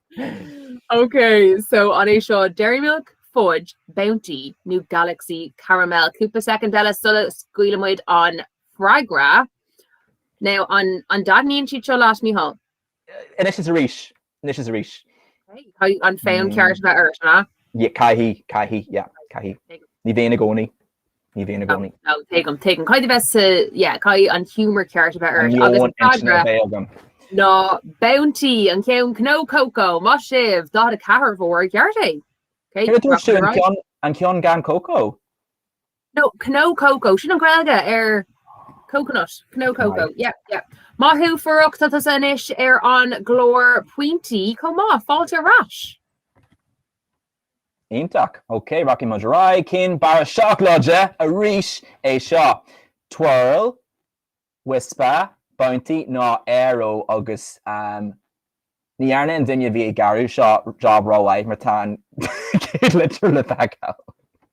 Ok so an é seo Dairy Milk, Fudge, Bounty nó Galaxy Caramel? Cúpla soicind eile sula scaoileann muid an freagra. Now an an dtaitníonn siad seo leat Micheál? Anois is arís, anois is arís. Caithfidh an fonn ceart a bheith ort, ná? Caithfidh, caithfidh, yeah, caithfidh. Ní bheinn i gcónaí. Ní bheinn i gcónaí. Tuigim, tuigim. Caithfidh a bheith sa, yeah, caithfidh an humour ceart a bheith ort. Agus an meon intinne a bheith agam. An freagra ná Bounty, an ceann cnó cócó, maith sibh, 44 a bhfuair i gceart é. Ok, Céard a dúirt tú, an ceann, an ceann gan cócó? No, cnó cócó, sin an Gaeilge ar coconut, cnó cócó, Right. yeah, yeah. Maith thú, Furach, tá tusa anois ar an gclár pointí chomh maith, fáilte ar ais. Iontach! Ok, rachaidh muid ar aghaidh cén barra seacláide arís é seo. Twirl, Wispa, Bounty nó Aero agus ehm ní dhearna an duine a bhí ag gearradh seo job ró-mhaith mar tá an chéad litir le feiceáil.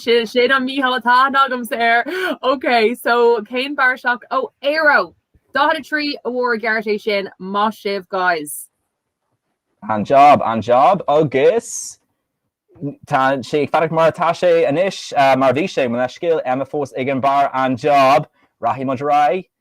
Sin an míthuiscint atá agamsa air. Ok so cén barra seacláide Aero? 43 a bhfuair i gceart é sin. Maith sibh guys. An job, an job agus tá sé ag fanacht mar atá sé anois, mar a bhí sé, mo leithscéal, Emma fós ag an barr, an job, rachaidh muid ar aghaidh.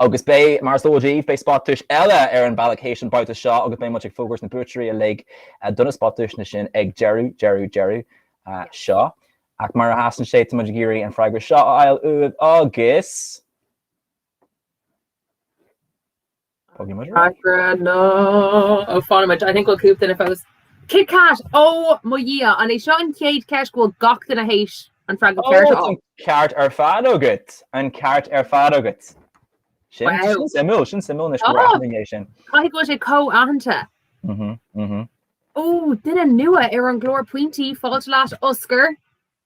Agus beidh, mar is eol daoibh, beidh spotduais eile ar an bhealach théis an babhta seo agus beidh muid ag fógairt na buaiteoirí uilig do na spotduaiseanna sin ag deireadh, deireadh, deireadh seo. Ach mar a sheasann sé, tá muid ag iarraidh an freagra seo a fháil uaibh agus. Fágfaidh muid freagra nó fágfaidh muid, I think we'll cúpla duine fós. Kit Kat! Ó mo Dhia, an é seo an chéad cheist go bhfuil gach duine théis an freagra Ó, ceart a tá fháil? an ceart ar fad agat! An ceart ar fad agat! Sin, Wow! sin suimiúil, sin suimiúil anois go bhfuil Tá! aithne aige sin. Caithfidh go bhfuil sé chomh haitheanta. Mhm, mhm. Ó, duine nua ar an gclár Pointí, fáilte leat, Oscar!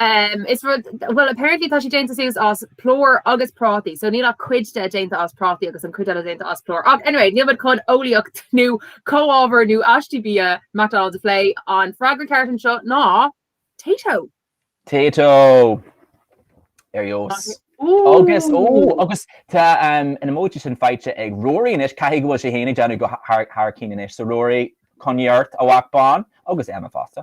Is rud, bhuel, apparently tá sé déanta suas as plúr agus prátaí, so níl ach cuid de déanta as prátaí agus an chuid eile déanta as plúr. Ach anyway, níl muid chun eolaíocht nó comhábhair nó aistí bia McDonald's a phlé. An freagra ceart anseo ná Tayto! Tayto! Ar ndóigh. Agus, ó, agus tá an emoji sin faighte ag Ruairí anois, caithfidh go bhfuil sé féin ag déanamh go thar cinn anois. So Ruairí, coinnigh ort, a mhac bán, agus Emma fosta.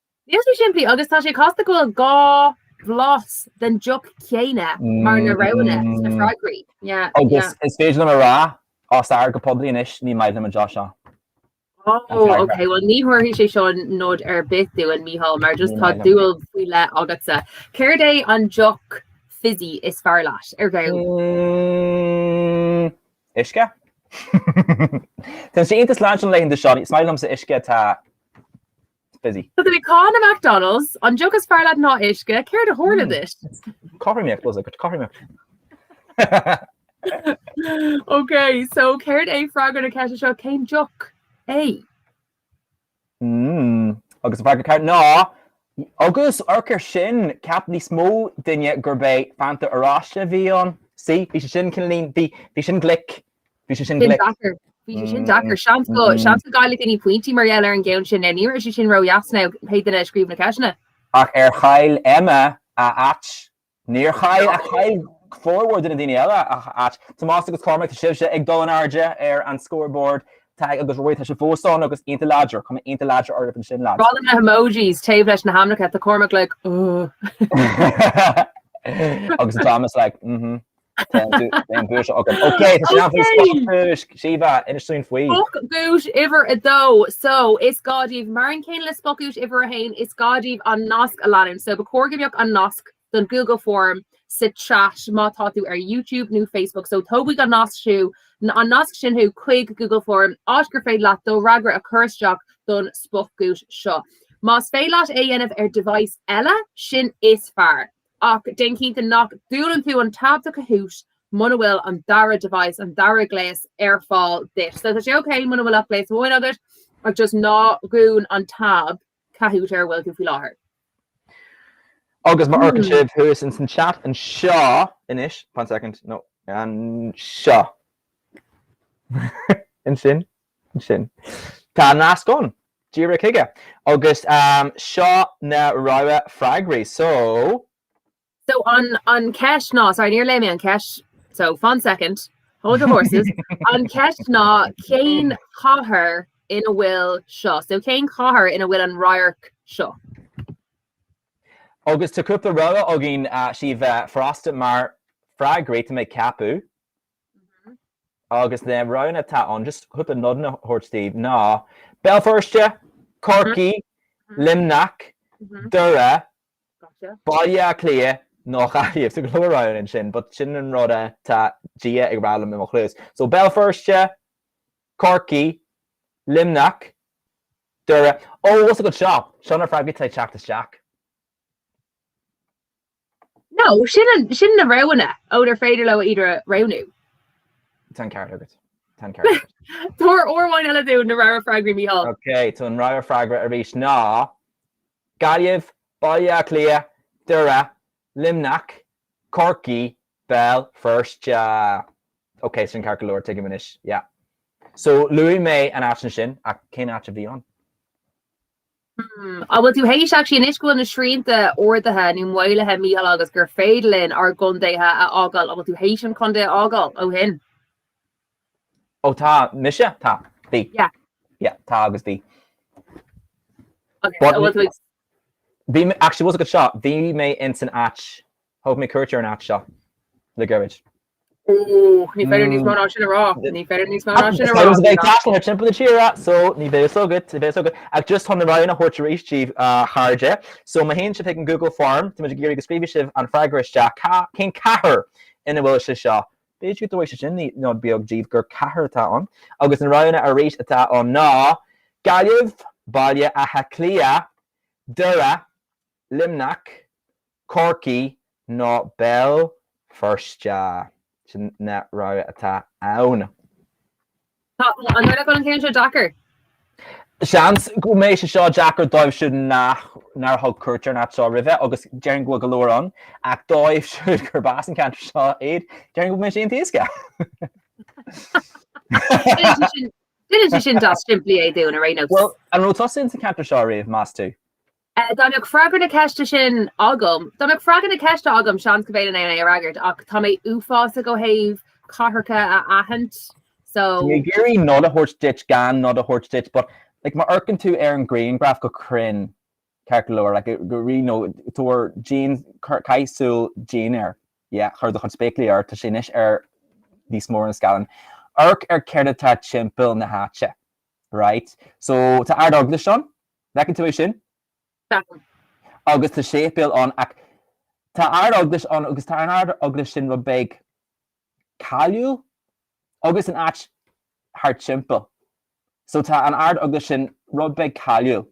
Níl sé simplí agus tá sé casta go bhfuil dhá bhlas den deoch chéanna mar na roghanna sna freagraí. Agus is féidir liom a rá, os ard go poiblí anois, ní maith liom an deoch seo. Ó, OK. Bhuel, ní thabharfaidh sé seo nod ar bith dúinn, Mícheál, mar just tá dúil faoi leith agatsa. Céard é an deoch fizzy is fearr leat, a Mhícheáil? Uisce. Tá sé iontach leadránach na laethanta seo, is maith liomsa uisce atá fizzy. Tá tú ag cáineadh McDonalds. An deoch is fearr leat ná uisce. Céard a tharla duit? Cothromaíocht was it? Cothromaíocht. Ok, so céard é freagra na ceiste seo? Cén deoch é? Mm, agus an freagra ceart ná agus Rock ar sin cheap níos mó duine gurb é fanta oráiste a bhí ann. Sí, bhí sé sin cineálín, bhí sin glic, Bhí sé sin glic. Bhí sé sin deacair. Seans go seans go gcaillfidh daoine pointí mar gheall ar an gceann sin. Ní raibh sé sin ródheas ná pé duine a scríobh na ceisteanna. Ach ar chaill Emma a áit? Níor chaill. Ach chaill formhór de na daoine eile a n-áit. Tomás agus Cormac, tá sibhse ag dul in airde ar an scoreboard. Tadhg agus Ruairí, tá sibh fós ann agus aghaidheanna láidre. Cuma aghaidheanna láidre oraibh ansin, lads. Ró-álainn na hemojis taobh leis na hainmneacha. Tá Cormac like, uhh. Agus tá Thomas like, mhm. Déan duais agam. Ok, tá sé ann faoin spotdhuais. Síomha, inis dúinn faoi. Spotdhuais uimhir a dó. So, is gá daoibh, mar an gcéanna le spotdhuais uimhir a haon, is gá daoibh an nasc a leanúint. So, ba chóir go mbeadh an nasc don Google Form sa chat má tá tú ar YouTube nó Facebook. So, tógfaidh an nasc thú, an nasc sin thú chuig Google Form, áit gur féidir leat do fhreagra a chur isteach don spotdhuais seo. Más féidir leat é a dhéanamh ar device eile, sin is fearr. Ach déan cinnte nach ndúnann tú an tab do Kahoot muna bhfuil an dara device, an dara gléas ar fáil duit. So tá sé okay muna bhfuil ach gléas amháin agat ach just ná dún an tab Kahoot ar a bhfuil tú faoi láthair. Agus má amharcann sibh thuas in san chat anseo anois fan second ó anseo ansin sin. Tá an nasc ann. Díreach chuige. Agus seo na rogha freagraí. So. So an ceist ná, sorry níor léigh mé an ceist, so fan second, hold your horses, an ceist ná cén chathair ina bhfuil seo, so cén chathair ina bhfuil an radharc seo? Agus tá cúpla rogha againn, Síomha, furasta mar freagraí, tá mé ag ceapadh. Agus na roghanna atá ann, just chun nod a thabhairt daoibh, ná Béal Feirste, Corcaigh, Luimneach, Doire, Baile Átha Cliath nó Gaillimh. Tá go leor roghanna ansin, but sin an rud atá Dia ag rá liom i mo chluas. So Béal Feirste, Corcaigh, Luimneach, Doire. Ó, an bhfuil 's agat seo! Seo na freagraí atá ag teacht isteach. No, sin na roghanna ónar féidir leo iad a roghnú. Tá an ceart agat. Tá an ceart agat. Tabhair uair amháin eile dúinn na rogha freagraí, Micheál. Ok, so an rogha freagra arís ná, Gaillimh, Baile Átha Cliath, Doire, Luimneach, Corcaigh, Béal Feirste. Ok, sin ceart go leor, tuigim anois, yeah. So luaigh mé an áit ansin, ach cén áit a bhí ann? Hm, an bhfuil tú théis actually anois go bhfuil na srianta ardaithe nó maolaithe Micheál agus gur féidir linn ár gcontaetha a fhágáil, an bhfuil tú théis an contae a fhágáil ó shin? Ó tá, mise? Tá, bhí. Yeah. Yeah, tá agus bhí. Ok, so an bhfuil tú ag. Bhí mé, actually, bhfuil 's agat seo, bhí mé ins an áit Thóg mé cuairt ar an áit seo le gairid. Ooh, ní féidir níos mó ná sin a rá, ní féidir níos mó ná sin a rá. Bíonn sé ar teacht timpeall na tíre, so ní bheidh fhios agat, ní bheidh fhios agat. Ach just chun na roghanna a thabhairt arís daoibh, a chairde, so má théann sibh chuig an Google Form, táimid ag iarraidh go scríobhfaidh sibh an freagra isteach, cá, cén cathair ina bhfuil sé seo? B'fhéidir go dtabharfaidh sé sin ní, nod beag daoibh gur cathair atá ann. Agus na roghanna arís atá ann ná, Gaillimh, Baile Átha Cliath, Doire, Luimneach, Corcaigh nó Béal Feirste, sin na roghanna atá ann. Tá an dul le col an ceann seo deacair. Seans go mbeidh sé seo deacair dóibh siúd nach, nár thug cuairt ar an áit seo roimhe agus déarfainn go bhfuil go leor ann, ach dóibh siúd gurb as an ceantar seo iad, déarfainn go bhfuil sé iontach éasca. Déan é sin, déan é sin deas simplí é dúinn, ar aon nós. Bhuel, an raibh tusa sa cheantar seo ariamh, meas tú? Dá mbeadh freagra na ceiste sin agam, dá mbeadh freagra na ceiste agam, seans go bhféadfainn é a fhreagairt ach tá mé uafásach ó thaobh cathracha a aithint so. Bhí mé ag iarraidh nod a thabhairt duit gan nod a thabhairt duit but like má amharcann tú ar an ghrianghraf go cruinn, ceart go leor, like really nó tabhair dian, caith súil dian air, yeah, chuir do chuid spéaclaí ort, tá sé anois níos mó ar an scáileán. Amharc ar céard atá timpeall na háite, right? So tá Ard Eaglais ann, An bhfeiceann tú é sin? Feicim. Agus tá séipéal ann ach tá Ard-Eaglais ann agus tá an Ard-Eaglais sin rud beag cáiliúil agus an áit thart timpeall. So tá an Ard-Eaglais sin rud beag cáiliúil.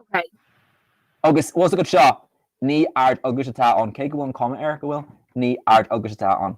Okay. Agus tá a fhios agat seo ní Ard-Eaglais atá ann, cé go bhfuil an cuma air go bhfuil, ní Ard-Eaglais atá ann.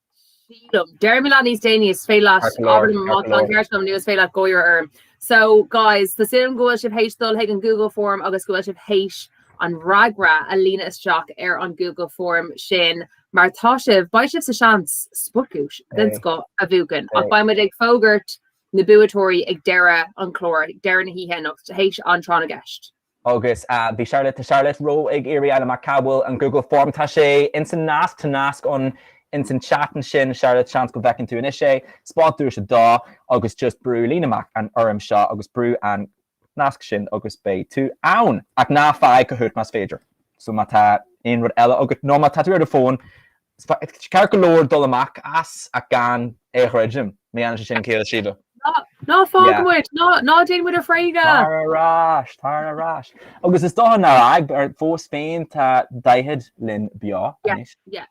sílim. Deirim leat níos déanaí is féidir leat abair liom má tá an ceart agam nó is féidir leat gáire orm. So, guys, tá súil agam go bhfuil sibh théis dul chuig an Google Form agus go bhfuil sibh théis an fhreagra a líonadh isteach ar an Google Form sin mar tá sibh, beidh sibh sa seans spotduais den scoth a bhuachan ach beidh muid ag fógairt na buaiteoirí ag deireadh an chláir, ag deireadh na hoíche anocht, théis an tráth na gceist. Agus bhí Charlotte Charlotte Roe ag iarraidh a fháil amach cá bhfuil an Google Form. Tá sé ins an nasc Tá nasc ann ins an chat ansin Charlotte seans go bhfeiceann tú anois é. Spotduais 2 agus just brú líon amach an fhoirm seo agus brú an nasc sin agus beidh tú ann. Ach ná fág Kahoot más féidir. So má tá aon rud eile agat nó má tá tú ar do fón, Is ceart go leor dul amach as ach gan é a dhruidim. Má dhéanann sé sin, ciall daoibhse. Ná fág muid, ná déan muid a thréigeadh! Tar ar ais, tar ar ais. Agus is dócha ar ábhar, fós féin tá Daichead linn beo anois. Yeah, yeah.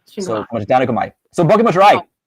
Sin go maith. So, tá muid ag déanamh go maith. So, bogfaidh muid ar aghaidh.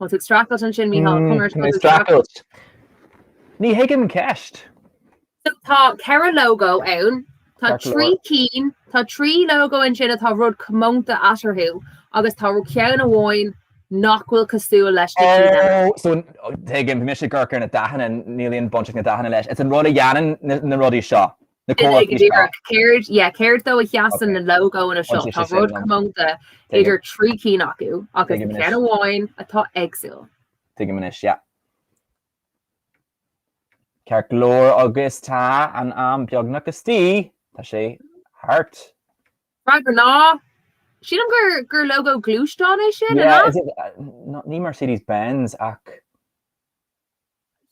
Tá tú ag streachailt ansin, Micheál, Tá mé ag streachailt. Ní thuigim an cheist. So tá ceithre logo ann, tá Ceart go trí leor. cinn, tá trí logo ansin atá rud comónta eatarthu agus tá ceann amháin nach bhfuil cosúil leis na cinn eile. Oh, so tuigim, bhí mise ag amharc ar na dathanna, níl aon bhaint ag na dathanna leis. It's an rud a dhéanann na na rudaí seo. Na comharthaí seo. díreach, céard, yeah, céard dó a sheasann na lógóanna seo? Tá Tá rud comónta idir trí cinn acu agus Tuigim anois. ceann amháin atá éagsúil. Tuigim anois, yeah. Ceart go leor agus tá an am beagnach istigh. Tá sé thart. Freagra ná, Sílim gur gur lógó gluaisteáin é sin, an Yeah, ea? is it, uh, no- ní Mercedes-Benz ach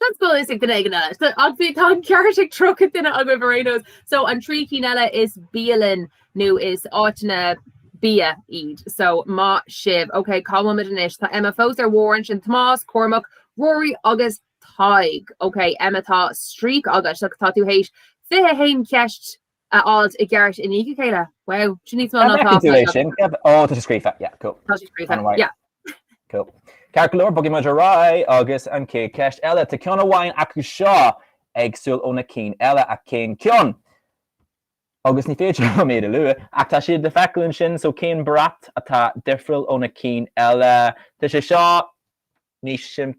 Seans go bhfuil fhios ag duine éigin eile. Ach bhí tá an ceart ag 30 duine agaibh ar aon nós. So an trí cinn eile is bialann nó is áiteanna bia iad. So maith sibh, ok cá bhfuil muid anois? Tá Emma fós ar bharr ansin, Tomás, Cormac, Ruairí agus Tadhg. Ok Emma tá streak agat, tá tú tar éis 21 cheist a fháil i gceart i ndiaidh a chéile. Wow, sin níos mó ná tá sé scríofa. Ó, tá sé scríofa, yeah, cool. Tá sé scríofa, yeah. Cool. Ceart go leor, bogfaidh muid ar aghaidh agus an chéad cheist eile. Tá ceann amháin acu seo éagsúil ó na cinn eile, ach cén ceann? Agus ní féidir liom iad a lua, ach tá siad le feiceáil ansin, so cén brat atá difriúil ó na cinn eile? Tá sé seo níos simplí.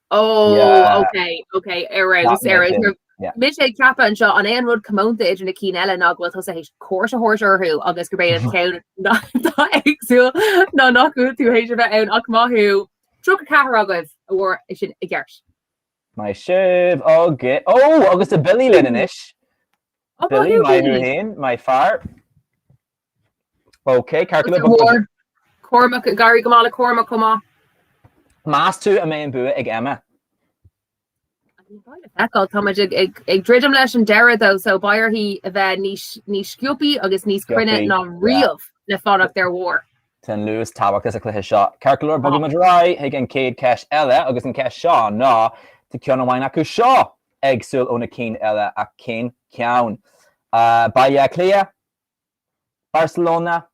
Yeah. Ó, ok, ok, ar Not nós, ar nós. making. Yeah. Mise ag ceapadh anseo an é an rud comónta idir na cinn eile ná go bhfuil tusa tar éis cuairt a thabhairt orthu agus gurb é an ceann ná ná éagsúil ná nach bhfuil tú tar éis a bheith ann ach maith thú 34 agaibh a fuair é sin i gceart. Maith sibh go. Ó, agus tá Billy linn anois. Ó, Billy, maith thú féin, maith fear. Ok, ceart go leor bog ar. Cormac, ag éirí go maith le Cormac chomh maith. Meas tú a mbeidh an bua ag Emma? Bhuel, táimid ag druidim leis an deireadh though so beidh uirthi a bheith níos sciobtha agus níos cruinne ná riamh le fanacht ar bharr. Tá an luas tábhachtach sa chluiche seo. Ceart go leor bogfaidh muid ar aghaidh chuig an chéad cheist eile agus an cheist seo ná, tá ceann amháin acu seo éagsúil ó na cinn eile ach cén ceann? Baile Átha Cliath, Barcelona,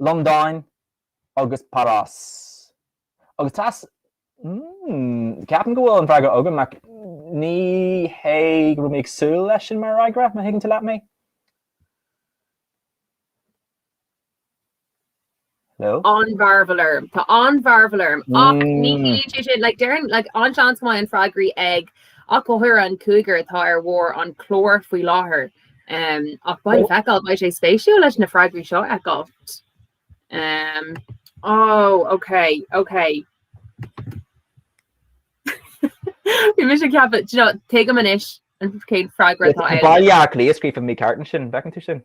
Londain agus Páras. Agus tá s, mm, ceapaim go bhfuil an freagra agam ach ní hé go raibh mé ag súil leis sin mar fhreagra, má thuigeann tú leat mé. No? An-mhearbhall orm. Tá an-mhearbhall orm. Ach ní Mm. hé sé sin, like, deirn, like, an-seans go mbeidh an freagra ag achan duine den cúigear atá ar bharr an chláir faoi láthair. Um, ach le feiceáil, beidh sé spéisiúil leis na freagraí seo a fheiceáil. Um, oh, okay, okay. Bhí mise ag ceapadh, do you know, tuigim anois cén freagra atá ann. Baile Átha Cliath scríofa mícheart ansin, bhfeiceann tú sin?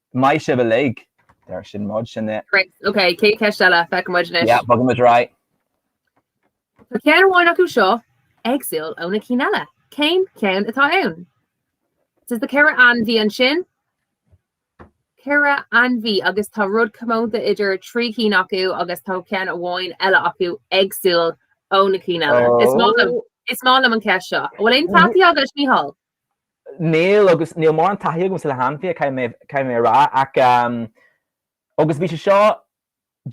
Go maith sibh uilig! Deir sin muid sin é. Great. Ok, céad cheist eile? Feicimid anois. Yeah, bogfaidh muid right. Tá ceann amháin acu seo éagsúil óna cinn eile. Cén ceann atá ann? So tá ceithre ainmhí ansin? Ceithre ainmhí agus tá rud comónta idir trí chinn acu agus tá ceann amháin eile acu éagsúil óna cinn eile. Is maith liom- Oh. is maith liom an ceist seo. Bhfuil aon taithí agat, Micheál? níl agus níl mórán taithí agamsa le hainmhithe, caithfidh mé, caithfidh mé a rá ach ehm agus bhí sé seo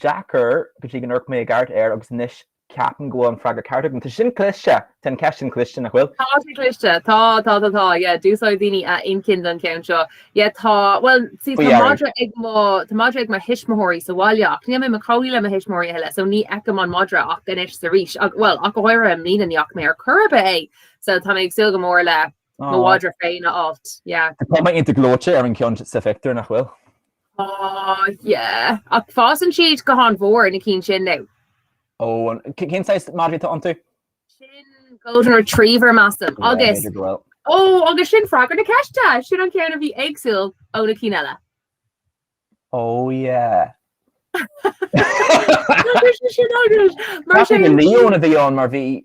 deacair go dtí gur amharc mé i gceart air agus anois ceapaim go bhfuil an freagra ceart agam. Tá sin cliste, tá an ceist sin cliste, nach bhfuil? Tá sé cliste, tá, tá, tá, tá, yeah, d'úsáid daoine a inchinn don cheann seo. Yeah, tá, bhuel, see, Faoi tá dheireadh. madra ag mo, tá madra ag mo thuismitheoirí sa bhaile ach níl mé i mo chónaí le mo thuismitheoirí a thuilleadh, so ní fheicim an madra ach anois is arís ach bhuel ach go háirithe i mbliana ní fhaca mé ar chor ar bith é. so tá mé ag súil go mór le mo mhadra féin a fháilt, yeah. Tá sé iontach gleoite an ceann sa phictiúr, nach bhfuil? Á, yeah. Ach fásann siad go han-mhór na cinn sin nó? Ó, cén saghas madraí atá iontu? Sin golden retriever, measaim, Yeah, agus, b'fhéidir go bhfuil. ó, agus sin freagra na ceiste! Sin an ceann a bhí éagsúil óna cinn eile. Ó, yeah. Agus sin sin agus, mar Caithfidh sin, go Leon a bhí ann mar bhí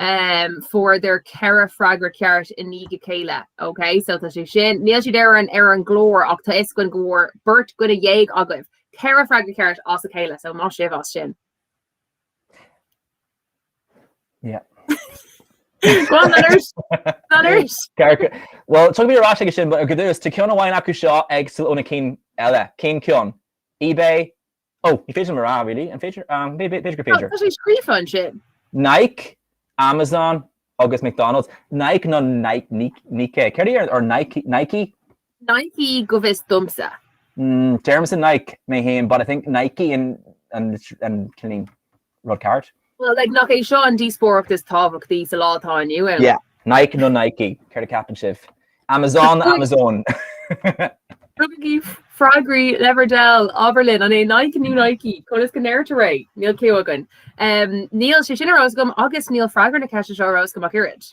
fuaireadar ceithre freagra ceart i ndiaidh a chéile. OK, so tá sé sin. Níl siad ar an ar an gclár ach tá 'fhios againn go bhfuair beirt duine dhéag agaibh ceithre freagra ceart as a chéile, so maith sibh as sin. Yeah. Go on, Leonard. Leonard. Cearca. Well, tiocfaidh mé ar ais aige sin, but ar dtús, tá ceann amháin acu seo éagsúil ó na cinn eile. Cén ceann? eBay, Oh, ní féidir liom a rá, really. An féidir? Um, bé, bé, b'fhéidir gur féidir. Tá sé scríofa ansin. Nike, Amazon agus McDonald's. Nike nó Nike, Nike, Nike. Céard é ar, or Nike, Nike? Nike go bhfios domsa. Mm, deirimse Nike mé fhéin, but I think Nike an, an, an, cillín. rud ceart. Bhuel, like, nach é seo an díospóireacht is tábhachtaí sa lá atá inniu ann? Yeah. Nike nó Nike? Céard a cheapann sibh? Amazon nó Amazon? Tugaigí freagraí le bhur dtoil, abraigí linn, an é Nike nó Nike? Conas go ndeirtear é? Níl cliú againn. Um, níl sé sin ar eolas agam agus níl freagra na ceiste seo ar eolas agam ach oiread.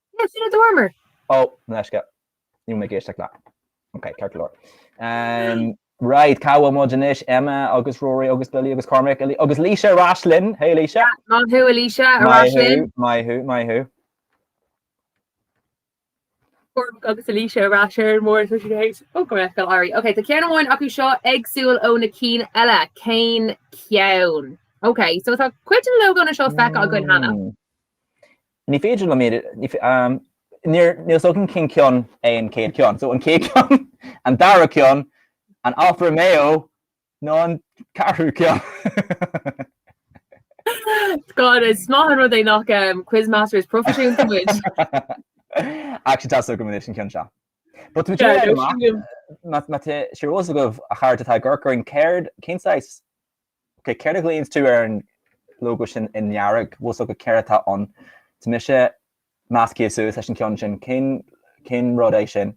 Cén fáth a dúramar? Ó, leisce. Níl mé ag éisteacht leat. Ok, ceart go leor. Right, cá bhfuil muid anois? Emma agus Ruairí agus Billy agus Cormac agus Laoise ar ais linn. Hey Laoise. Maith thú a Laoise, ar ais linn. Maith thú, maith thú. Cormac agus a Laoise ar ais ar an mbord is muise héit. Ó go raibh go airí. Ok, tá ceann amháin acu seo éagsúil ó na cinn eile. Cén ceann? Ok, so tá cuid de na logónna seo feicthe againn cheana. Ní féidir liom iad a, níor, níor thug. Cén ceann é an chéad ceann. So an chéad ceann, an dara ceann, an Alfa Romeo nó an ceathrú ceann? God, is maith an rud é nach quizmasters proifisiúnta muid! Actually tá fhios agam anois an ceann seo. But sure try it amach, má, má tá sé ar eolas agaibh, atá ag ár gcur, cur i rang, céard, cén saghas Ok, céard a ghlaonn tú ar an logo sin i ndearg? Bhfuil fhios agat céard atá ann? Tá mise measctha suas leis an ceann sin. Cén, cén rud é sin?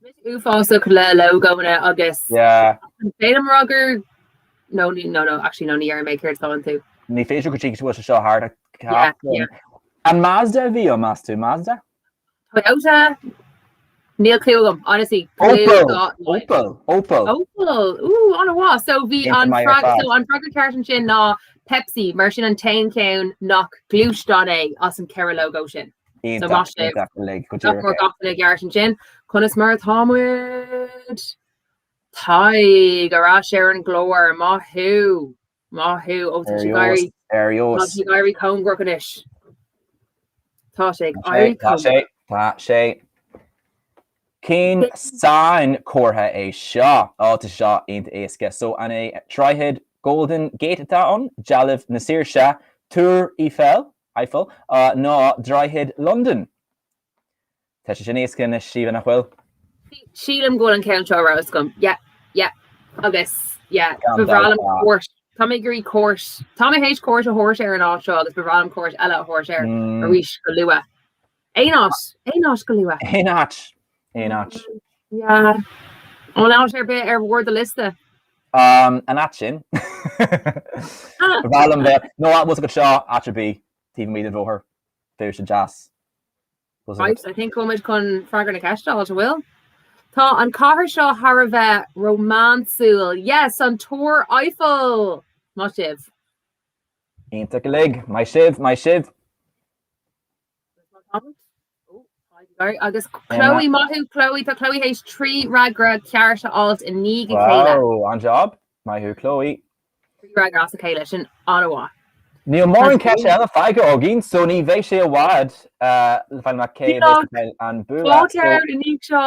Tá mise uafásach le logónna agus Yeah. sílim a rá gur nó ní nó nó actually nó ní dhéarfaidh mé céard is domhain tú. Ní féidir go dtí go bhfuil sé seo thart, Yeah, yeah. An Mazda a bhí ann, meas tú? Mazda? Toyota? Níl clue agam, honestly. Opel! Opel! Opel! Opel! Ooh, an-mhaith. So b'é an freagra ceart ansin ná Pepsi, mar sin an t-aon cheann nach gluaisteán é as an ceithre lógó sin. So má fuair gach duine ceart ansin. Conas mar atá muid? Tadhg, ar ais ar an gclár, maith thú! Maith thú, ó tá sé ag éirí, ar fheabhas. Tá sé ag éirí cóngarach anois. Tá sé ag éirí cóngarach. Tá sé, tá sé. Cén sainchomhartha é seo? Ó, tá sé seo iontach éasca. So an é Droichead Golden Gate atá ann, dealbh na saoirse, Tour Eiffel, Eiffel, nó Droichead Londan? Tá sé sin éasca anois, sílim, nach bhfuil? Sílim go bhfuil an ceann seo ró-éasca. Yeah, yeah. Agus, yeah, Gan ba bhreá dabht, liom tá. cuairt. Tá mé ag iarraidh cuairt, tá mé théis cuairt a thabhairt ar an áit seo agus ba bhreá liom cuairt eile a thabhairt air Mm, arís go luath. Aon áit, aon áit go luath. aon áit, aon áit. Yeah. Aon áit ar bith ar bharr do liosta? Um, an áit sin. Ah, Ba bhreá liom bheith, nó, ah, bhfuil fhios agat seo, áit ar bith, taobh amuigh den bhóthar. sách deas. Right, I think go bhfuil muid chun freagra na ceiste, a fháil. Tá an cathair seo thar a bheith rómánsúil. Yes, an Tour Eiffel! Maith sibh. Iontach uilig. Maith sibh, maith sibh. Agus Chloe, maith thú Chloe, tá Chloe théis trí fhreagra ceart a fháilt i ndiaidh a chéile. Wow, an-jab. Maith thú Chloe. Bhí freagra as a chéile sin an-mhaith. Níl mórán ceist eile fágtha againn so ní bheidh sé i bhfad le feiceáil anois cé aige a bheidh an bua so. Fáilte ar an nídh seo.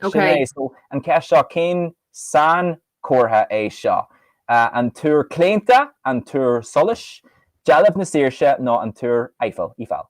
Ok. Sin é, so an cheist seo, cén sainchomhartha é seo? An túr claonta, an túr solais, dealbh na saoirse nó an túr Eiffel, Eiffel?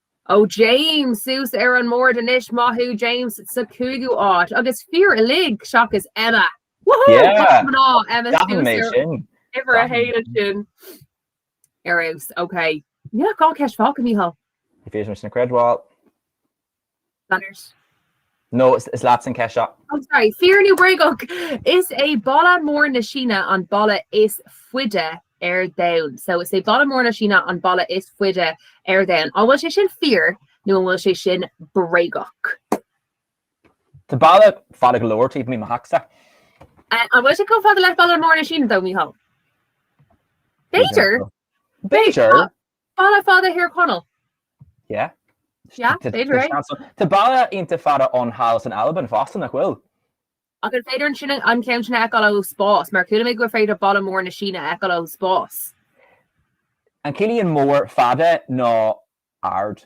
Ó James suas ar an mbord anois, maith thú James sa chúigiú áit agus fir uilig seachas Emma! Woohoo! Go mná Emma suas ar uimhir a haon ansin ar fheabhas. Ok. Níl ach dhá ceist fágtha Micheál. Níl mé á chreidbheáil. Gunners. No, is leat an ceist seo. Oh sorry, Fíor nó Bréagach? Is é Balla Mór na Síne an balla is faide ar domhan. So is é Balla Mór na Síne an balla is faide ar domhan. An bhfuil sé sin fíor nó an bhfuil sé sin bréagach? Tá balla fada go leor taobh amuigh mo theachsa. Eh, an bhfuil sé chomh fada le Balla Mór na Síne though, Micheál? B'fhéidir. B'fhéidir. Balla fada i dTír Chonaill? Yeah. Yeah, b'fhéidir é. Tá balla iontach fada ón halla san Albain fosta, nach bhfuil? Ach an féidir ansin an ceann sin a fheiceáil ó spás? Mar chuala mé gur féidir balla mór na Síne a fheiceáil ón spás. An gciallaíonn mór fada ná ard?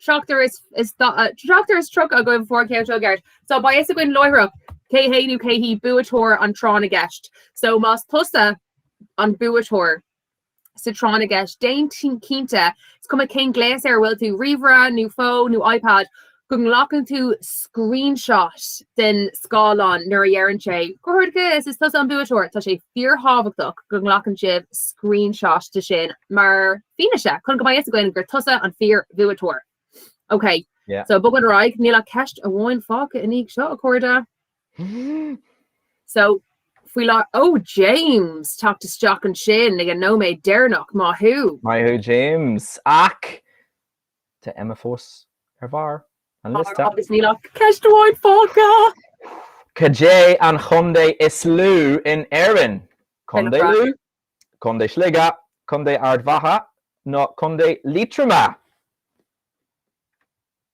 Seachtar is, seachtar is tríocha agaibh a fuair an ceann seo i gceart. So beidh fhios againn láithreach cé hé nó cé hí buaiteoir an tráth na gceist. So más tusa an buaiteoir sa tráth na gceist, déan cinnte, is cuma cén gléas ar a bhfuil tú, ríomhaire nó fón nó iPad, go nglacann tú screenshot den scáileán nuair a deireann sé gur tusa, is tusa an buaiteoir. Tá sé fíorthábhachtach go nglacann sibh screenshot de sin mar Fianaise, chun go mbeidh fhios againn gur tusa an fíorbhuaiteoir. Ok, Yeah. so ag bogadh ar aghaidh, níl ach ceist amháin fágtha i ndiaidh seo, a chairde. So, fair play, ó James, teacht isteach ansin ag an nóiméad deireanach, maith thú! Maith thú James, ach tá Emma fós ar bharr an liosta. Agus níl ach ceist amháin fágtha! Cad é an contae is lú in Éirinn? Contae Lú? Contae Shligigh, Contae Ard Mhacha nó Contae Liatroma?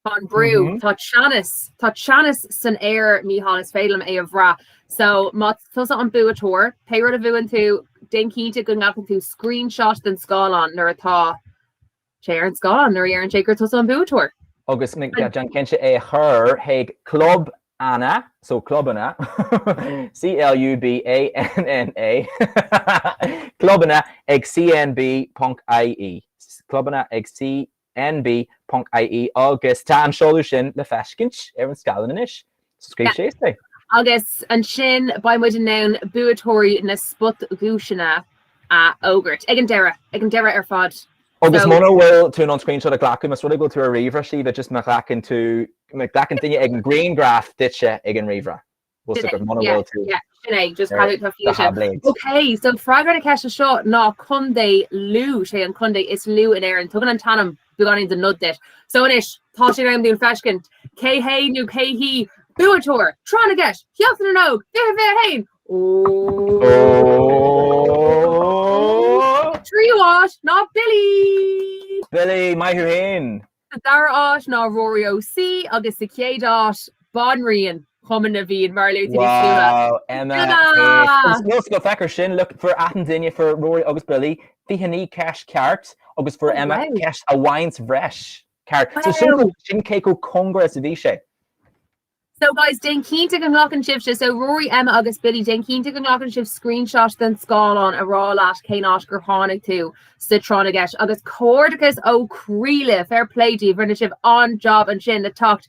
Tá an brú, tá teannas, tá teannas san aer Mícheál, is féidir liom é a bhrath. So más tusa an buaiteoir, pé rud, má bhuann tú, déan cinnte go nglacann tú screenshot den scáileán nuair atá sé ar an scáileán nuair a deireann sé gur tusa an buaiteoir. Agus déan cinnte é a chur chuig Clubanna, so Clubanna, C-L-U-B-A-N-N-A, Clubanna ag CNB.ie, Clubanna ag CNB.ie, agus tá an seoladh sin le feiscint ar an scáileán anois. Agus ansin, beidh muid in ann buaiteoirí na spotdhuaiseanna a fhógairt ag an deireadh, ag an deireadh ar fad. Agus mura bhfuil tú in ann screenshot a ghlacadh, más rud é go bhfuil tú ar an ríomhaire, Síomha, is just má ghlacann tú, má ghlacann duine eicínt grianghraf duitse ag an ríomhaire, go bhfuil tú agat, mura bhfuil tú ar do thaibléad. Ok, so freagra na ceiste seo ná Contae Lú, sé an contae is lú in Éirinn. Tugann an t-ainm Tugann an t-ainm nod duit. So anois, tá sé in am dúinn feiscint, cé hé nó cé hí, buaiteoir, tráth na gceist, Seachtain na nÓg, fiche fiche a haon! Ooh! Tríú áit ná Billy! Billy, maith thú fhéin! Sa dara áit ná Rory OC agus sa chéad áit, Banríon. Cumann na bhFiann, mar a bheifeá ag súil leis. Wow, Emma, é an Emma! so so féach air sin, look, fuair achan duine, fuair Rory agus Billy 29 ceist ceart agus fuair Oh, Emma wow! ceist amháint bhreis ceart. So sin Wow! sin cé chomh cóngara is a bhí sé. So guys, déan cinnte go nglacann sibhse, so Rory, Emma agus Billy, déan cinnte go nglacann sibh screenshot den scáileán a rá leat cén áit gur tháinig tú sa tráth na gceist. Agus comhghairdeachas ó chroí libh, fair play daoibh, rinne sibh an-jab ansin le teacht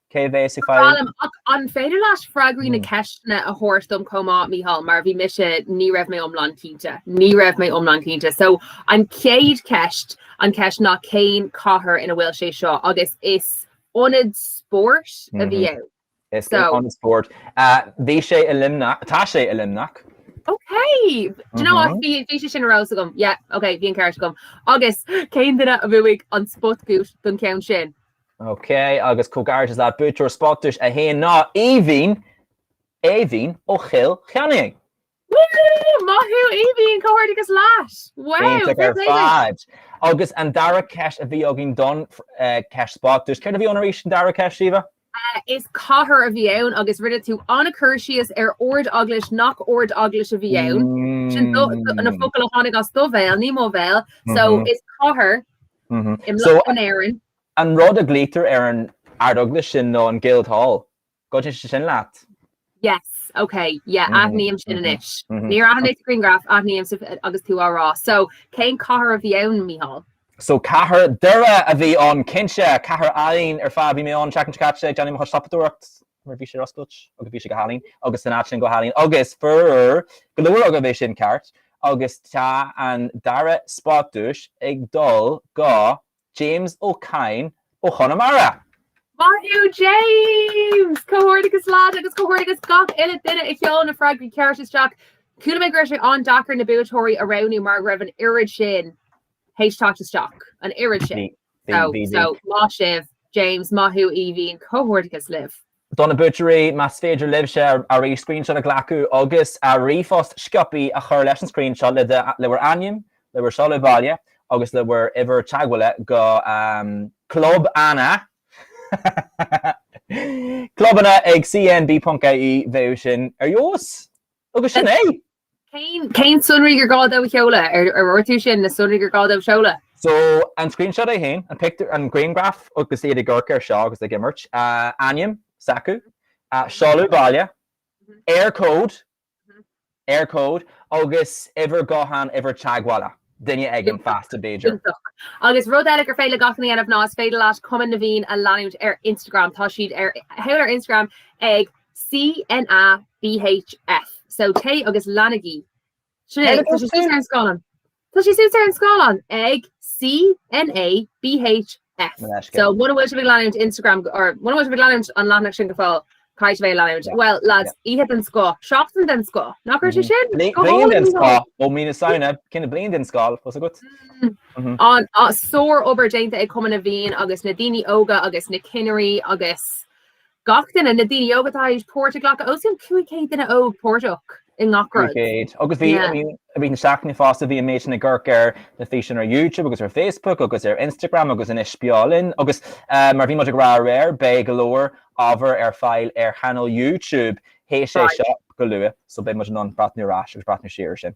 An féidir leat freagraí na ceisteanna a thabhairt dom chomh maith, Micheál, mar bhí mise, ní raibh mé iomlán cinnte, ní raibh mé iomlán cinnte. So, an chéad cheist, an cheist ná, cén cathair ina bhfuil sé seo agus is ionad spóirt a bhí ann. Is ionad spóirt. Bhí sé i Luimneach, tá sé i Luimneach. Ok! Do you know what, bhí sé sin ar eolas agam. Yeah, ok, bhí an ceart agam. Agus cén duine a bhuaigh an spotduais don cheann sin? Ok, agus comhghairdeachas leat, buaiteoir Spotduais 1 ná Aoibhín, Aoibhín ó Chill Chainnigh! Woo! Maith thú Aoibhín, comhghairdeachas leat! Wow! Iontach ar fad! Agus an dara ceist a bhí againn don cheist Spotduais, céard a bhí ann arís an dara ceist, Síomha? Is cathair a bhí ann agus rinne tú an-chur síos ar Ard-Eaglais nach Ard-Eaglais a bhí ann, sin na focail a tháinig as do bhéal, ní mo bhéal, so is cathair in Éirinn. An rud a ghlaoitear ar an Ardeaglais sin nó an Guildhall, go dté sin leat? Yes, ok, yeah, aithním sin anois. Níor aithin mé sa ngrianghraf, aithním agus tú á rá. So, cén cathair a bhí ann, Mícheál? So, cathair Dhoire a bhí ann, cinnte, cathair álainn ar fad. Bhí mé ann an tseachtain seo caite ag déanamh mo chuid siopadóireacht, mar bhí sé ar oscailt agus bhí sé go hálainn, agus san áit sin go hálainn, agus fuair go leor agaibh é sin ceart, agus tá an dara spot duais ag dul go James Ó Cadhain ó Chonamara. Maith thú James! Comhghairdeachas leat agus comhghairdeachas gach uile duine a sheol na freagraí ceart isteach. Chuala mé go raibh sé an-deacair na buaiteoirí a roghnú mar go raibh an oiread sin théis teacht isteach, an oiread sin. Bhí, bhí, bhí. So, so, maith sibh, James, maith thú Aoibhín, comhghairdeachas libh. Do na buaiteoirí, más féidir libhse arís screenshot a ghlacadh agus ríomhphost sciopaí a chur leis an screenshot le bhur ainm, le bhur seoladh baile agus le bhur uimhir teagmhála go Club Anna, clubanna ag cnb.ie, bheadh sin ar fheabhas! Agus sin é! Cén sonraí gur gá dóibh a sheoladh? Ar ordú sin na sonraí gur gá dóibh a sheoladh? So, an screenshot é féin, an pictiúr, an grianghraf agus iad ag amharc air seo agus ag imirt. Ainm s'acu, seoladh baile, Eircode, Eircode, agus uimhir gutháin, uimhir teagmhála duine éigin fásta, b'fhéidir. Iontach. Agus rud eile gur féidir le gach duine a dhéanamh ná is féidir leat Cumann na bhFiann a leanúint ar Instagram. Tá siad ar fáil ar Instagram ag. CNA BHF so téigh agus leanaigí sin, tá sé suas ar an scáileán Tá sé suas ar an scáileán ag CNA BHF An eisce. so muna bhfuil sibh ag leanúint Instagram go- or muna bhfuil sibh ag leanúint an leathanach sin go fóill caithfidh sibh é a leanúint. Yeah, Bhuel lads, yeah. oíche den scoth, seachtain den scoth, nach raibh sé Mhm. sin? Bli- Go Bliain hálainn den go scoth hálainn. ó mí na Samhna, cinneadh bliain den scoth, cos agat. Mm. Mhm. An sár obair déanta ag Cumann na bhFiann agus na daoine óga agus na cinnirí agus Gach duine, na daoine óga atá tar éis páirt a ghlacadh, os cionn 500 duine óg páirteach i ngach rud. 500. Agus bhí, I mean, I mean, sa tseachtain fosta bhí an méid sin ag amharc ar na físeáin ar YouTube agus ar Facebook agus ar Instagram agus anois beo linn. Agus mar bhí muid ag rá aréir, beidh go leor ábhar ar fáil ar chainéal YouTube théis é seo go luath, so beidh muid in ann breathnú ar ais agus breathnú siar ar sin.